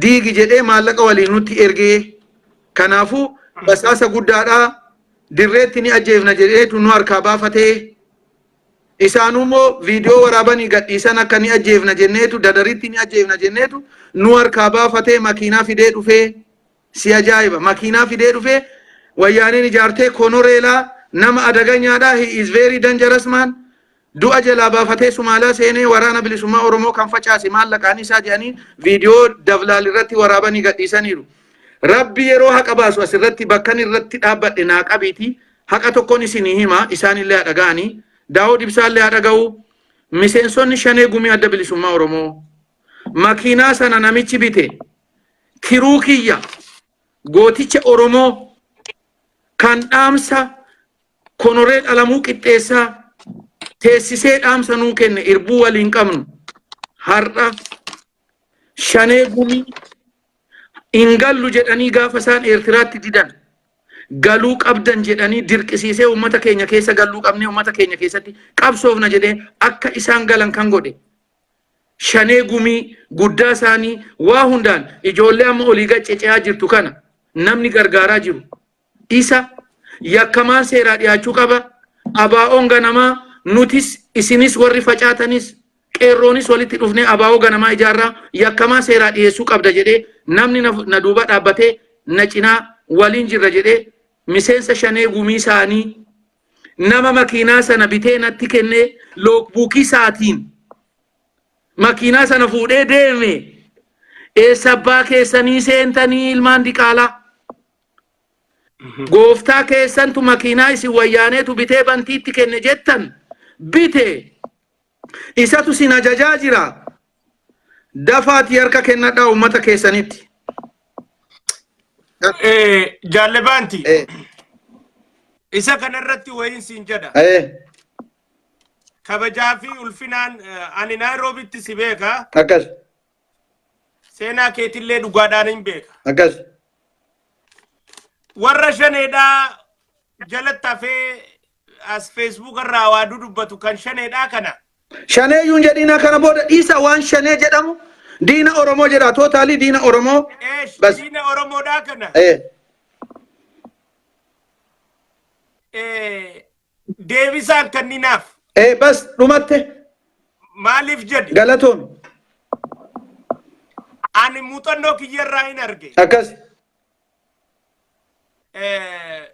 diigi jedhee maallaqa waliin nutti ergee. Kanaafuu basaasa guddaadhaa dirreetti ni ajjeefna jedheetu nu harkaa baafatee. Isaanuu immoo viidiyoo waraabanii gadhiisan akka ni ajjeefna jenneetu dadaritti ni ajjeefna jenneetu nu harkaa baafatee makiinaa fidee dhufee. Si ajaa'iba makiinaa fidee dhufee wayyaaneen ijaartee konoreelaa nama adaganyaadhaa he is very dangerous man du'a jalaa baafatee sumaalaa seenee waraana bilisummaa oromoo kan facaase maallaqaan isaa jedhanii viidiyoo davlaal irratti waraabanii gadhiisaniiru rabbi yeroo haqa baasu asirratti bakkan irratti dhaabbadhe naa qabiitii haqa tokkon isinii hima isaanillee haa dhaga'anii daawud ibsaallee haa dhaga'uu miseensonni shanee gumii adda bilisummaa oromoo makiinaa sana namichi bite kiruu kiyya gooticha Oromoo kan dhaamsa konoree dhalamuu qixxeessaa teessisee dhaamsa nuu kenne irbuu waliin qabnu har'a shanee gumii hin gallu jedhanii gaafa isaan Eertiraatti didan galuu qabdan jedhanii dirqisiisee uummata keenya keessa galuu qabnee uummata keenya keessatti qabsoofna jedhee akka isaan galan kan godhe shanee gumii guddaa isaanii waa hundaan ijoollee amma olii gad cece'aa jirtu kana namni gargaaraa jiru isa yakkamaan seeraa dhiyaachuu qaba abaa'oon ganamaa nutis isinis warri facaatanis qeerroonis walitti dhufnee abaa'oo ganamaa ijaarraa yakkamaa seeraa dhiyeessuu qabda jedhee namni na na duuba dhaabbatee na cinaa waliin jirra jedhee miseensa shanee gumii isaanii nama makiinaa sana bitee natti kennee loogbuukii isaatiin makiinaa sana fuudhee deeme eessa abbaa keessanii seentanii ilmaan diqaalaa gooftaa keessantu makiinaa isin wayyaaneetu bitee bantiitti kenne jettan bite isatu sin ajajaa jira Dafaatii harka kennadhaa uummata keessanitti. Eh, Jaalle Baanti, Eh, isa kanarratti wayiin siin jedha. eh, Kabajaa fi ulfinaan eh, ani Naayiroobitti si beeka, akkas, seenaa keetillee dhugaadhaan hin beeka. akkas. Warra shaneedhaa jalatti hafee as Facebook irraa waa dudubbatu kan shaneedhaa kana. Shanee yuun jedhiinaa kana booda dhiisa waan shanee jedhamu diina Oromoo jedha tootaalii diina Oromoo. Eesh Bas. diina Oromoodhaa kana. Eh, Eh, Deebisaan kanninaaf eh, bas dhumatte maaliif jedhi? galatoomi Ani muuxannoo kiyyarraa hin arge. akkas.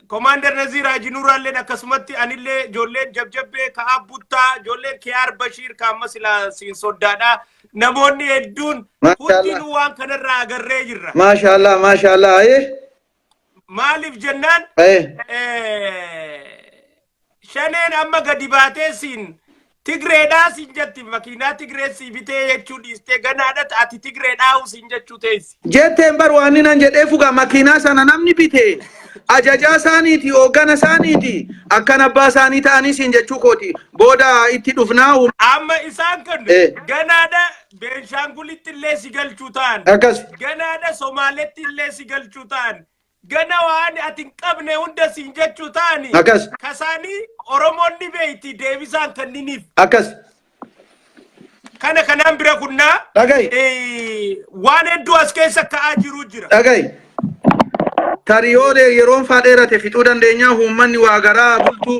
Komaander Naziir Haaji Nuuraalleen akkasumatti anillee ijoolleen jabjabbee ka'aa buttaa ijoolleen Kiyaar Bashiir ka amma silaa siin soddaadha. Namoonni hedduun Maashaallah. hundinuu waan kanarraa agarree jirra. Maashaallah maashaallah ayee Maaliif jennaan ayee eh, Shaneen amma gadi baatee siin Tigreedhaa siin jetti makiinaa Tigree sii bitee jechuu dhiistee ganaadhat ati Tigreedhaa huu siin jechuu teessi. Jetteen bar waan inni nan jedhee fugaa makiinaa sana namni bite ajajaa isaaniiti hooggana isaaniiti akkan abbaa isaanii ta'anii siin jechuu kooti booda itti dhufnaa. Amma isaan kun ganaadha Beenshaangulitti illee si galchuu ta'an. Akkas. Ganaadha Somaaletti illee si galchuu ta'an. Gana waan ati hin qabne hunda siin jechuu taani. Akkas. Kasaanii Oromoon ni beeyti deebisaan kanniniif. Akkas. Kana kanaan bira kunnaa. Dhagahi. eh, Waan hedduu as keessa ka'aa jiruu jira. Dhagahi. Tarii yoo dee- yeroon faa dheerate fixuu dandeenyaa uummanni waa garaa bultuu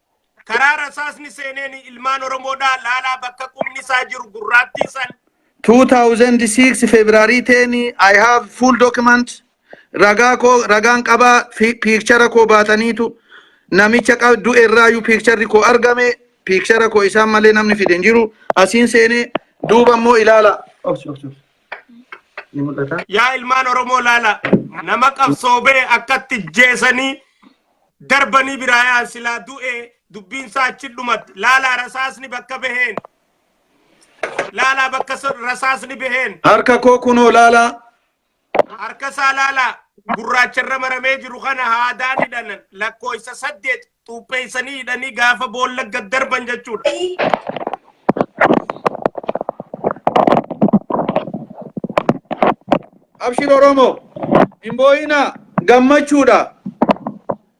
karaa rasaasni seeneen ilmaan Oromoodhaa laalaa bakka qubni isaa jiru gurraattii san 2006 February 10 I have full document ragaa koo ragaan qabaa fi piikchara koo baataniitu namicha qab- du'e irraayyuu piikcharri koo argame piikchara koo isaan malee namni fide hin jiru asiin seenee duuba immoo ilaala. Obsi, obsi, obsi. Ni mul'ata. yaa ilmaan Oromoo laalaa nama qabsoobee akkatti jeesanii Darbanii biraa yaa'an silaa du'e dubbiin isaa achi dhumatti. Laalaa rasaasni bakka baheen. Laalaa bakka sa- rasaasni baheen. Harka koo kunoo laalaa. Harka isaa laalaa gurraacharra maramee jiru kana haadaan hidhan lakkoofsa saddeet xuupheessanii hidhanii gaafa boolla gad darban jechuudha. Abshir Oromo! Hin boo'inaa! Gammachuudha!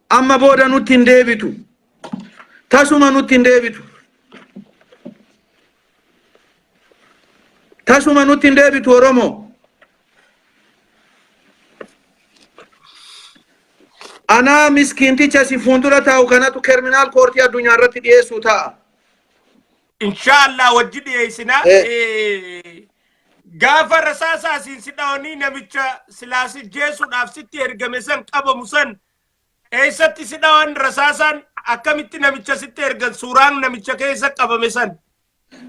Amma booda nutti hin deebitu. Tasuma nutti hin deebitu. Tasuma nutti hin deebitu Oromo. Anaa miskiinticha si fuuldura taa'u kanatu kerminaal koortii addunyaa irratti dhiyeessuu ta'a. Inshaallah wajji dhiyeessina. Eh. Eh, Gaafa rasaasaa siin si dhawanii namicha silaa si jeesuudhaaf sitti ergame san qabamu san eessatti si dhawan rasaasaan akkamitti namicha sitti ergan suuraan namicha keessa qabame san.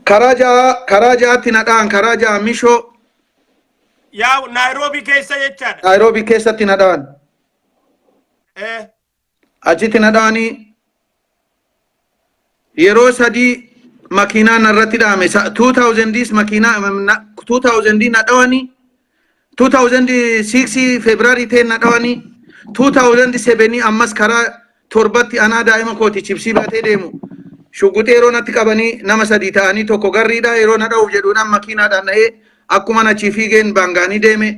Karaa ja'a karaa ja'atti na dha'an karaa ja'a mishoo Yaa Naayiroobii keessa jechaadha. Naayiroobii keessatti na dha'an. Eh, Achiti na dhaani yeroo sadii makiinaa narratti dhaame 2000s makiinaa 2000 na dhawani 2006 February 10 na dhawani 2007 ammas karaa torbatti anaa daa'ima kooti chipsii baatee deemu shuguxee yeroo natti qabanii nama sadii ta'anii tokko garriidha yeroo na dha'uuf jedhuudhaan makiinaadhaan na'ee akkuma achii fiigeen baangaanii deeme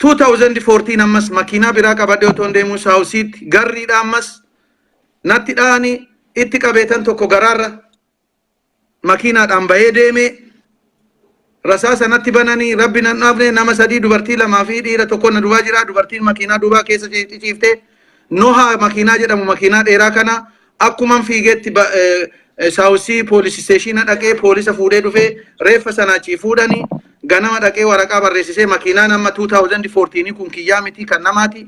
2014 ammas makiinaa biraa qabadhee otoon deemuu saawusiitti garriidha ammas natti dha'anii itti qabeetan tokko garaarra makiinaadhaan bahee deemee rasaasa natti bananii rabbi nan dhaafne nama sadii dubartii lamaa fi dhiira tokko na duwaa jira dubartiin makiinaa duubaa keessa ciiftee nohaa makiinaa jedhamu makiinaa dheeraa kana akkuman fiigeetti ba- eh, eh, saawusii poolisii isteeshiina dhaqee poolisa fuudhee dhufee reeffa sana achii fuudhanii ganama dhaqee waraqaa barreessisee makiinaan amma 2014 kun kiyyaa miti kan namaati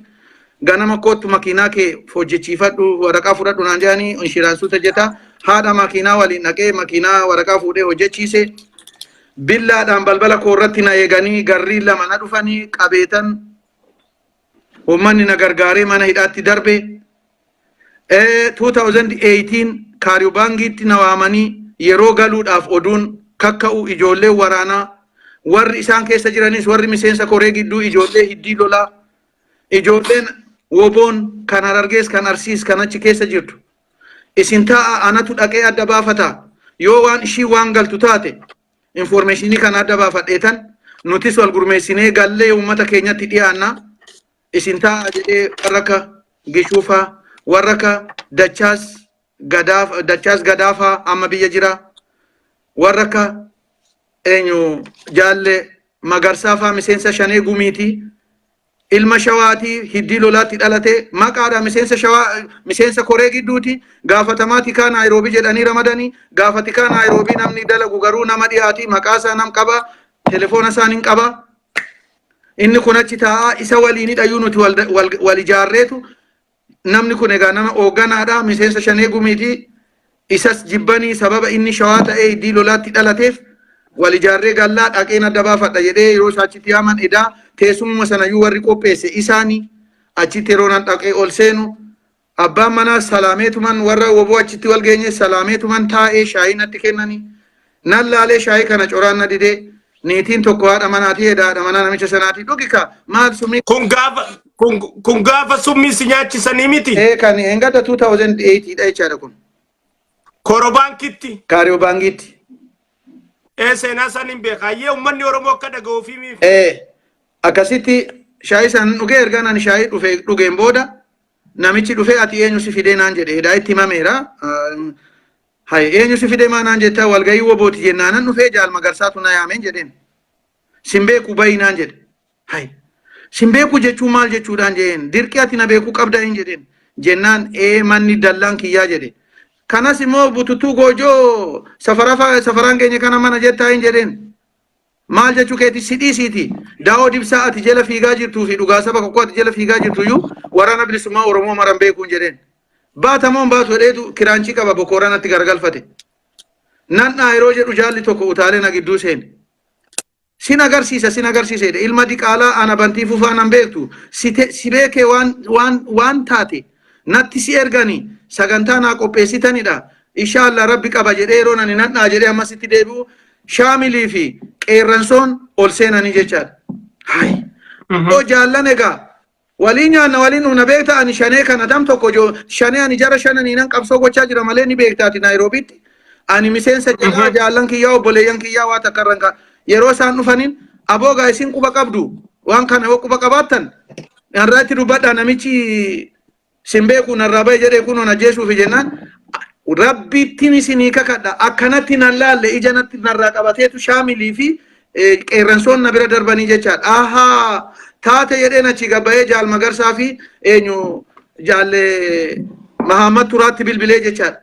ganama kootu makiinaa kee hojjechiifadhu waraqaa fudhadhu naan jedhanii inshiraansii hojjeta haadha makiinaa waliin dhaqee makiinaa waraqaa fuudhee hojjechiise billaadhaan balbala koo irratti na eeganii garrii lama na dhufanii qabeetan Uummanni na gargaaree mana hidhaatti darbe. 2018 Kaariyubaangiitti na waamanii yeroo galuudhaaf oduun kakka'u ijoolleen waraanaa warri isaan keessa jiranis warri miseensa koree gidduu ijoollee hiddii lolaa ijoolleen woboon kan harargees kan arsiis kan achi keessa jirtu isin taa'a anatu dhaqee adda baafata yoo waan ishii waan galtu taate Infoormeeshinii kana adda baafadheetan nutis wal gurmeessinee gallee uummata keenyatti dhiyaanna isin ta'a jedhee warra akka Gishuufaa warra akka Dachaas Gadaaf Dachaas Gadaafaa amma biyya jira warra akka eenyu jaalle Magarsaafaa miseensa shanee gumiitii ilma shawaati hiddii lolaatti dhalate maqaadha miseensa shawaa miseensa koree gidduuti gaafatamaa tikaa naayiroobii jedhanii ramadanii gaafa tikaa naayiroobii namni dalagu garuu nama dhiyaati maqaa isaa nam qaba telefoona isaan hin qaba inni kun achi taa'aa isa waliinidha iyyuu nuti wal, wal, wal ijaarreetu Namni kun egaa nama hoogganaadha miseensa shanee gumiiti. Isas jibbanii sababa inni shawaa ta'ee iddii lolaatti dhalateef wal ijaarree gallaa dhaqeen adda baafadha jedhee yeroo isaa achitti yaaman edaa teessumuma sanayyuu warri qopheesse isaani achitti yeroo nan dhaqee ol seenu abbaan manaa salaameetuman warra woboo achitti wal geenye salaameetuman taa'ee shaayii natti kennanii Nan laalee shaayii kana coraan na didee niitiin tokko haadha manaatii edaa haadha manaa namicha sanaatii dhugi kaa maal sumii Kun gaafa kun kun gaafa summii si nyaachisanii miti. ee kan engada 2008 dha jechaadha kun Korobaankitti. kaariyoo baangiitti. Ee seenaa isaan hin beekaa. Yee uummanni Oromoo akka dhaga'uu fi miif. Ee akkasitti shaayii san dhugee erga nani shaayii dhufe dhugeen booda namichi dhufee ati eenyu si fidee naan jedhe edaa itti himameera. Hay eenyu si fide maa naan jettaa walgahii wobooti jennaanan dhufee jaal magarsaatu na yaameen jedheen. Sin beeku bayi naan jedhe. Hay sin beeku jechuun maal jechuudhaan jedheen dirqi ati na beeku qabdaa hin jedheen jennaan ee manni dallaan kiyyaa jedhe. Kanas immoo bututtuu goojoo safaraan keenya kana mana jettaa hin jedheen. Maal jechuu keeti si dhiisiiti daawoo dibsaa ati jala fiigaa jirtuu fi dhugaa saba kokkoo ati jala fiigaa jirtu iyyuu waraana bilisummaa Oromoo maran beekuun jedheen. Baata moo hin baatu jedheetu kiraanchii qaba bokooranatti garagalfate. Nan'aa yeroo jedhu jaalli tokko utaalee na gidduu seene. Sin agarsiisa sin agarsiisa jedhe ilma diqaalaa ana bantii fufaa nan beektu si te- si beekee waan waan waan taate Natti si ergani sagantaa naa qopheessitanidha. Inshaallah rabbi qaba jedhee yeroon ani nan dha'a jedhee ammas itti deebi'u shaamilii fi qeerransoon ol seenanii jechaadha. Hayi. Yoo jaallan egaa walii nyaanna walii dhugna beekta ani shanee kana dam tokko jo shanee ani jara shananii nan qabsoo gochaa jira malee ni beektaati Naayiroobiitti. Ani miseensa jalaa jaallan kiyyaa obboleeyyan kiyyaa waa takka irra hin ka'a. Yeroo isaan dhufaniin aboogaa isin quba qabdu waan kana yoo quba qabaattan narraatti dubbadha namichi sin beeku narraa bahe jedhee kunoo na jeesuufi jennaan rabbiittiin isinii kakadha akkanatti nan laalle ija natti narraa qabateetu shaamilii fi qeerransoon na bira darbanii jechaadha ahaa taate jedheen achi gabbayee jaal magarsaa fi eenyu jaalle mahaamad turaatti bilbilee jechaadha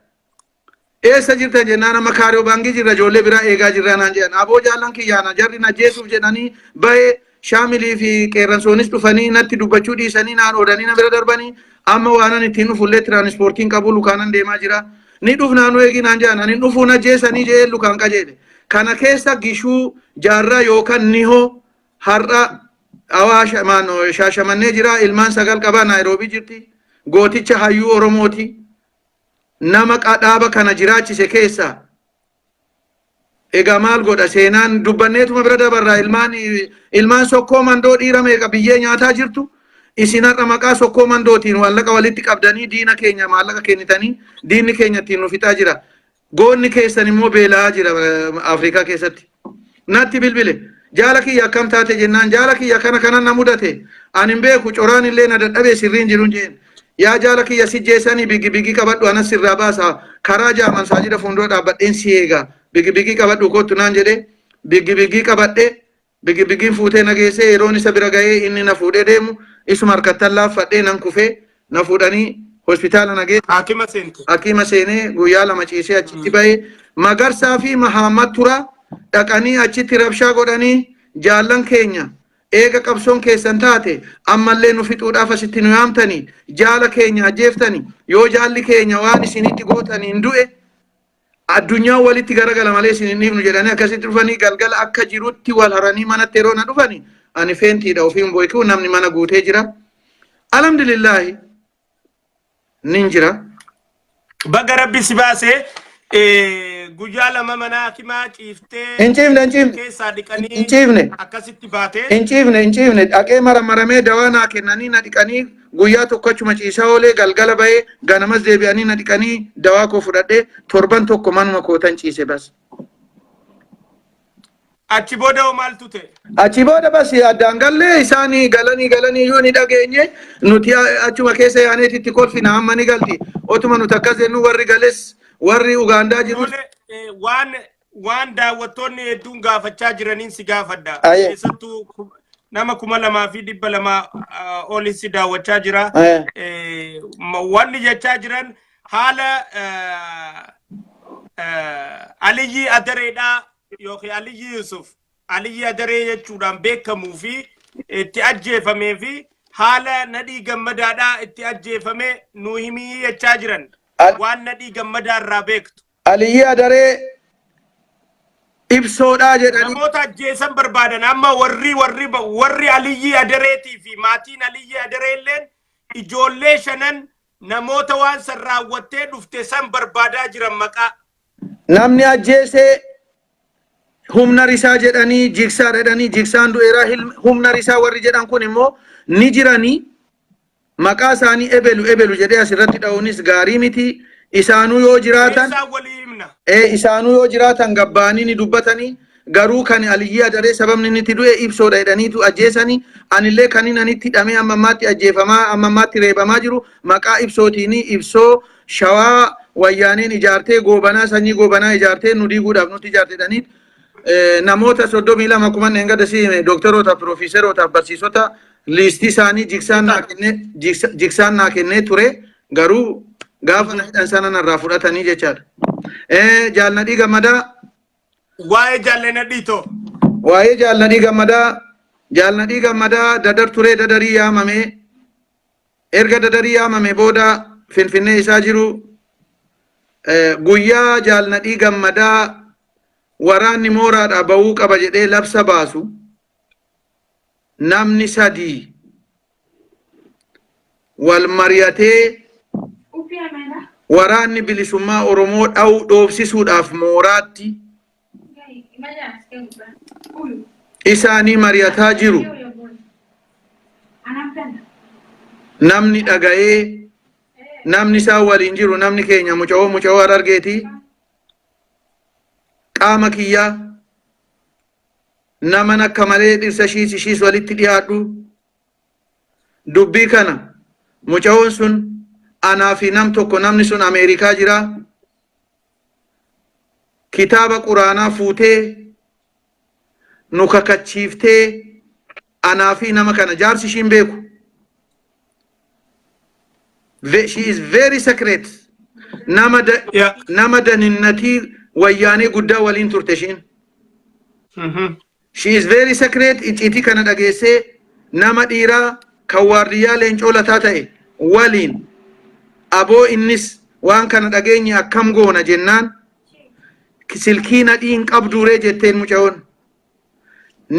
Eessa jirta jennaan amma kaariyoo baangii jirra ijoollee biraa eegaa jirraa naan jedhan. Aboo jaallan kiyyaana jarri na jeesuuf jedhanii bahee shaamilii fi qeerransoonis dhufanii natti dubbachuu dhiisanii naan oolanii na bira darbanii amma waanan ittiin dhufullee tiraanispoortiin qabu lukaanan deemaa jira. Ni dhufnaa nu eegii naan jedhan ani dhufuu na jeesanii jedhee lukaan qajeele. Kana keessa gishuu jaarraa yookaan nihoo har'a awaasha shaashamannee jira ilmaan sagal qaba naayiroobii jirti gooticha hayyuu oromooti. nama qa- dhaaba kana jiraachise keessaa egaa maal godha seenaan dubbanneetuma bira dabarraa ilmaan ilmaan sokkoo mandoo dhiira meeqa biyyee nyaataa jirtu isin har'a maqaa sokkoo mandootiin maallaqa walitti qabdanii diina keenya maallaqa kennitanii diinni keenya ittiin nu fixaa jira goonni keessan immoo beela'aa jira eh, afrikaa keessatti natti bilbile jaala kiyya akkam taate jennaan jaala kiyya kana kana na mudate ani hin beeku coraan illee na dadhabee sirrii hin jiru jeen yaa jaala kiyya si jeesanii bigi bigi qabadhu anas sirraa baasa karaa jaaman saajida fuuldura dhaabbadheen si eega bigi bigi qabadhu kottu naan jedhee bigi bigi qabadhee bigi bigiin fuutee na geessee yeroon isa bira ga'ee inni na fuudhee deemu isuma harkattan laaffadhee nan kufee na fuudhanii hospitaala na geessan. Haakima seente. Hakiima seenee guyyaa lama ciisee achitti bahe. Magarsaa fi Mahaammat Turaa dhaqanii achitti rabshaa godhanii jaallan keenya eega qabsoon keessan taate ammallee nu fixuudhaaf asitti nu yaamtanii jaala keenya ajjeeftanii yoo jaalli keenya waan isinitti gootaniin du'e Addunyaan walitti garagala malee isin hin dhiifnu jedhanii akkasitti dhufanii galgala akka jirutti wal haranii manatti yeroo na dhufani ani feentiidha ofiin boykuu namni mana guutee jira. Alhamdulillaahi nin jira. Baga rabbi si baase eh, guyyaa lama mana hakimaa Hin ciiftee ciifne hin ciifne keessaa hin dhiqanii ciifne akkasitti baate. hin ciifne hin ciifne dhaqee maramaramee dawaa naa kennanii na dhiqanii Guyyaa tokko achuma ciisaa oolee galgala bahee ganamas deebi'anii na dhiqanii dawaa koo fudhadhee torban tokko manuma kootan ciise bas. Achi booda hoo maaltu ta'e? Achi booda bas addaan gallee isaan galanii galanii iyyuu ni dhageenye nuti achuma keessa yaaneeti itti kolfina amma ni galti. Otuma nuti akkas jennu warri gales warri Ugaandaa jirus Tole, eh, waan waan daawwattoonni hedduun gaafachaa jiraniin si gaafadha. Aye. Keessattuu ku- nama kuma lamaa fi dhibba lama olin si daawwachaa jira. Aye. Eh, ma- Wanni jechaa jiran haala eh, eh, Aliyyii Adareedhaa yookiin Aliyyii Yusuf Aliyyii Adaree jechuudhaan beekamuu fi itti ajjeefamee fi haala nadhii gammadaadhaa itti ajjeefame nu himii jechaa jiran Al- waan nadhii gammadaa irraa beektu. Aliyyii Adaree ibsoodhaa jedhanii Namoota ajjeesan barbaadan amma warri warri warri Aliyyii Adareetii fi maatiin Aliyyii Adaree illeen ijoollee shanan namoota waan san raawwattee dhufte san barbaadaa jiran maqaa. namni ajjeesee humna risaa jedhanii jigsaa jedhanii jigsaan du'eeraa hilm- humna risaa warri jedhan kun immoo ni jiranii Maqaa isaanii ebelu ebelu jedhee as irratti dha'uunis gaarii miti. Isaanuu yoo jiraatan Isaan walii himna. ee isaanuu yoo jiraatan gabbaanii ni dubbatanii garuu kan Aliyyii Adaree sababni inni itti du'e ibsoodha jedhaniitu ajjeesanii anillee kan inni ani itti hidhamee amma ammaatti ajjeefamaa amma ammaatti reebamaa jiru maqaa ibsootiini ibsoo shawaa wayyaaneen ijaartee goobanaa sanyii goobanaa ijaartee nu diiguudhaaf nutti ijaarte jedhanii namoota 32 akkuma dheengadda si hime dooktaroota, piroofeesaroota, barsiisota liistii isaanii jiksaan naa kennee jiksa- jiksaan naa kennee ture garuu gaafa na hidhan sana narraa fudhatanii jechaadha. Eh, Jaalladhii gammadaa Waa'ee jaallanna dhiitoo. waa'ee jaalladhii gammadaa jaalladhii gammadaa dadar turee dadarii yaamamee Erga Dadarii yaamamee booda Finfinnee isaa jiru guyyaa Jaal Nadhii Gammadaa waraanni mooraadhaa ba'uu qaba jedhee labsa baasu namni sadii wal mari'atee waraanni bilisummaa Oromoo dha'uu dhoofsisuudhaaf mooraatti isaanii mari'ataa jiru namni dhaga'ee namni isaan waliin jiru namni keenya muca'oo muca'oo harargeetii qaama kiyyaa naman akka malee dhirsa ishiis ishiis walitti dhiyaadhu dubbii kana muca'oon sun anaa fi nam tokko namni sun ameerikaa jira kitaaba quraanaa fuutee nu kakachiiftee anaa fi nama kana jaarsi ishiin beeku Ve- she is very secret nama da, Yeah. nama daninnatii wayyaanee guddaa waliin turte ishiin Mhm. She is very sacred icciitii kana dhageessee nama dhiiraa kan waardiyyaa leencoo lataa ta'e waliin aboo innis waan kana dhageenye akkam goona jennaan silkii nadhii hin qabduuree jetteen mucayoon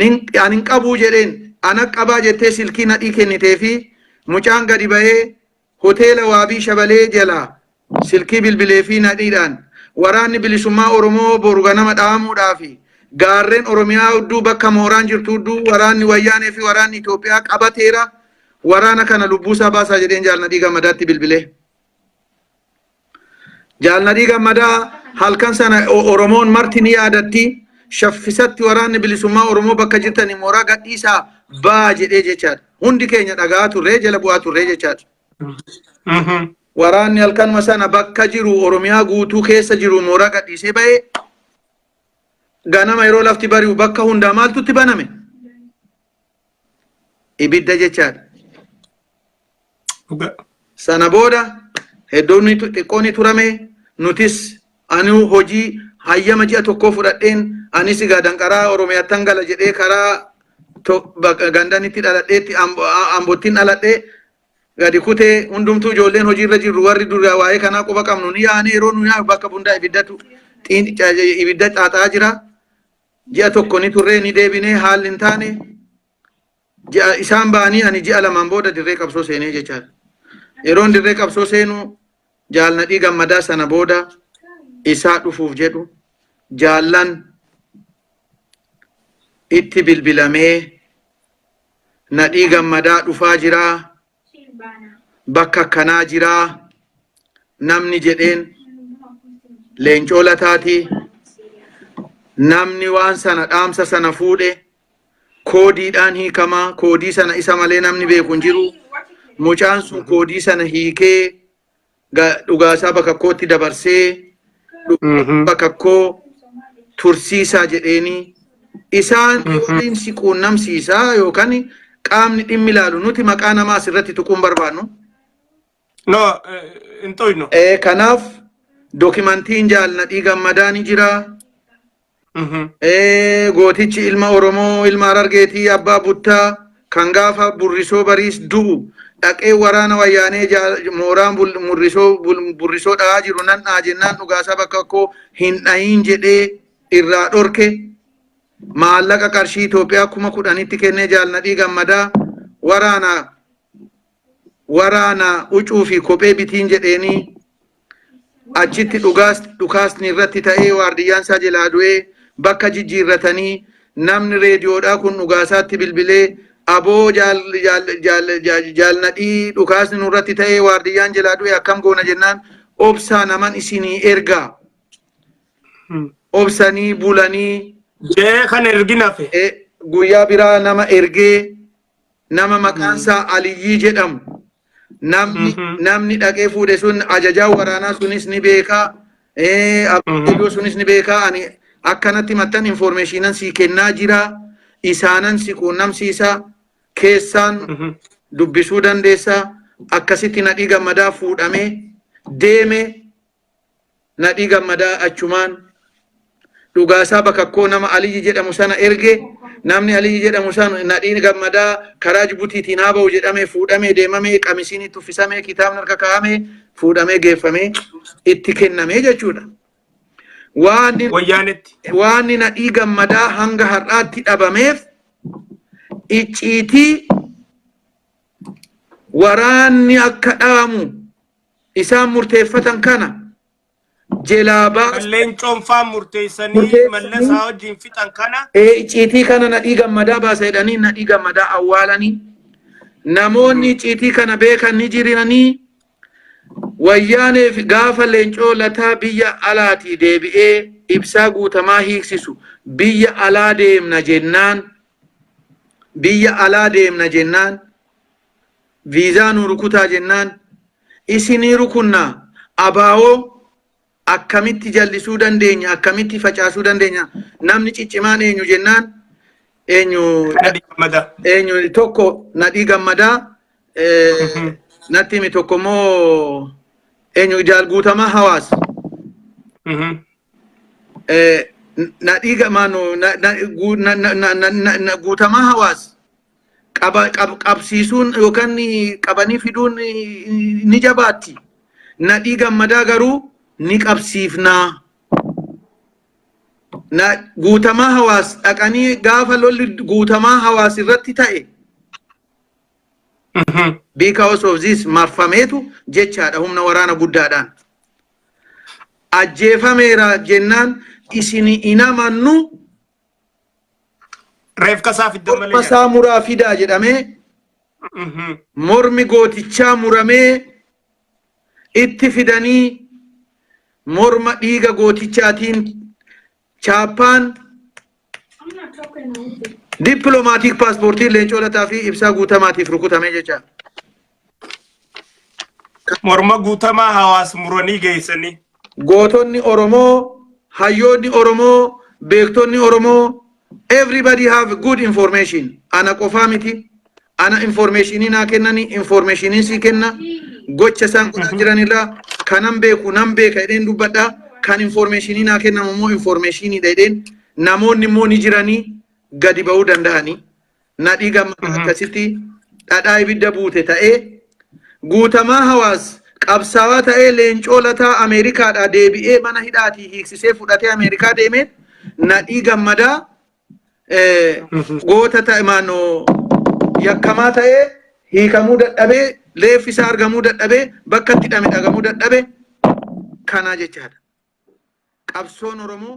Nin- an hin qabuu jedheen ana qabaa jettee silkii nadhii kennitee fi mucaan gadi bahee Hoteela Waabii Shabalee jalaa silkii bilbileefii nadhiidhaan Waraanni Bilisummaa Oromoo boru ganama dhahamuudhaaf gaarreen Oromiyaa hudduu bakka mooraan jirtu hudduu waraanni Wayyaanee fi waraanni Itoophiyaa qabateera waraana kana lubbuusaa baasaa jedheen Jaal Nadhii Gammadaatti bilbilee. Jaal Nadhii Gammadaa halkan sana Oromoon marti ni yaadatti shaffisatti waraanni bilisummaa Oromoo bakka jirtanii mooraa gadhiisaa baa jedhee jechaadha. Hundi keenya dhagaa turree jala bu'aa turree jechaadha. Waraanni halkanuma sana bakka jiru Oromiyaa guutuu keessa jiru mooraa gadhiisee ba'ee ganama yeroo lafti bari'u bakka hundaa maaltutti baname? ibidda jechaadha. Dhugaa. Sana booda heddoonni tu- xiqqoo ni turame nutis anuu hojii hayyama ji'a tokkoo fudhadheen anis egaa danqaraa Oromiyaattan gala jedhee karaa to- bak- gandaan itti dhaladheetti Ambo- A- Ambottiin dhaladhee gadi kutee hundumtuu ijoolleen hojiirra jirru warri dura waa'ee kanaa quba qabnu ni yaane yeroo nu yaanu bakka bundaa ibiddatu xiin- ca- ibidda xaaxaa jira. ji'a tokko ni turree ni deebinee haalli hin taane ji'a isaan ba'anii ani ji'a lamaan booda dirree qabsoo seenee jechaa yeroon dirree qabsoo seenu jaalnadhii gammadaa sana booda isaa dhufuuf jedhu jaallan itti bilbilamee nadhii gammadaa dhufaa jiraa Siin baanaa. bakka akkanaa jiraa namni jedheen leencoo lataati namni waan sana dhaamsa sana fuudhe koodiidhaan hiikamaa koodii sana isa malee namni beeku hin jiru mucaan sun koodii sana hiikee ga- dhugaasaa bakka kootti dabarsee Mhm. bakka koo tursiisaa jedheeni isaan Mhm. waliin si quunnamsiisaa yookaan qaamni dhimmi ilaalu nuti maqaa namaa asirratti tuquun barbaannu. No, eh, hin toynu. Eh, Kanaaf dookimantiin jaalladhii gammadaa ni jira. Eh, gootichi ilma Oromoo ilma Harargeetii abbaa buttaa kan gaafa burrisoo bariis du'u dhaqee waraana wayyaanee jaa- mooraan bul- murrisoo bul- burrisoo dha'aa jiru nan dha'a jennaan dhugaasaa bakka koo hin dha'iin jedhee irraa dhorke maallaqa qarshii Itoophiyaa kuma kudhanitti kennee jaalnadhii gammadaa waraana waraana ucuu fi kophee bitiin jedheenii achitti dhugaas dhukaasni irratti ta'ee waardiyyaan isaa jalaa du'ee bakka jijjiirratanii namni reediyoodhaa kun dhugaasaatti bilbilee aboo jaal jaal jaal jaal jaalnadhii dhukaasni nurratti ta'ee waardiyyaan jalaa du'e akkam goona jennaan obsaa naman isinii ergaa obsanii bulanii Jee kan erginafe. eh, guyyaa biraa nama ergee nama maqaan isaa Aliyyii jedhamu namni namni dhaqee fuudhe sun ajajaa waraanaa sunis ni beekaa eh, abbayyoo sunis ni beekaa ani akkanatti mattan informeeshiinan sii kennaa jiraa isaanan si quunnamsiisaa keessaan dubbisuu dandeessaa akkasitti nadhii gammadaa fuudhamee deeme Nadhii Gammadaa achumaan dhugaasaa bakakkoo nama Aliyyi jedhamu sana erge namni Aliyyi jedhamu sana Nadhiin Gammadaa karaa Jibutiitiin haa ba'u jedhamee fuudhamee deemamee qamisiin itti uffisamee kitaabni harka kaa'amee fuudhamee geeffamee itti kennamee jechuudha. Waan Wayyaanetti. waan nadhii gammadaa hanga har'aatti dhabameef icciitii waraanni akka dhaamu isaan murteeffatan kana jelaa baasa. Kan leencoon faan murteessanii mallasaa wajjin fixan kana. Icciitii kana nadhii gammadaa baasa jedhanii nadhii gammadaa awwaalanii namoonni icciitii kana beekan ni jirinanii wayyaaneef gaafa leencoo lataa biyya alaatii deebi'ee ibsaa guutamaa hiiksisu biyya alaa deemna jennaan biyya alaa deemna jennaan viizaa nuu rukutaa jennaan isinii rukunnaa abaawoo akkamitti jallisuu dandeenya akkamitti facaasuu dandeenya namni ciccimaan eenyu jennaan eenyu Nadhii Gammadaa. eenyu tokko nadhii gammadaa eh, natti himi tokko immoo eenyu jaal guutamaa hawaas Mhm. na dhiiga maano na guutamaa hawaas qabsiisuun yookaan qabanii fiduun ni jabaatti. Na dhiiga madaa garuu ni qabsiifnaa. Na guutamaa hawaas dhaqanii gaafa lolli guutamaa hawaas irratti ta'e. Because of this marfameetu jechaadha humna waraana guddaadhaan. ajjeefameera jennaan isini hin amannu Reefka isaa fiddan malee. morma isaa muraa fidaa jedhamee Mhm. mormi gootichaa muramee itti fidanii morma dhiiga gootichaatiin Chaappaan dippiloomaatiik paaspoortii Leencoo Lataa fi Ibsaa Guutamaatiif rukutame jecha. Morma guutamaa hawaas muranii geessanii. Gootonni Oromoo, hayyoonni Oromoo, beektonni Oromoo, everybody have good information. Ana qofaa miti. ana informeeshinii naa kennani informeeshinii sii kenna gocha isaan godhaa jiran irraa kanan beeku nan beeka jedheen dubbadha kan informeeshinii naa kennamu immoo informeeshiniidha jedheen namoonni immoo ni jiranii gadi ba'uu danda'anii nadhii gammada akkasitti dhadhaa ibidda buute ta'ee guutamaa hawaas qabsaawaa ta'ee leencoo lataa ameerikaadhaa deebi'ee mana hidhaatii hiiksisee fudhatee ameerikaa deemee nadhii gammadaa goota ta'e maannoo yakkamaa ta'ee hiikamuu dadhabee reeffi isaa argamuu dadhabee bakka itti hidhame dhagamuu dadhabe kanaa jechaadha. Qabsoon Oromoo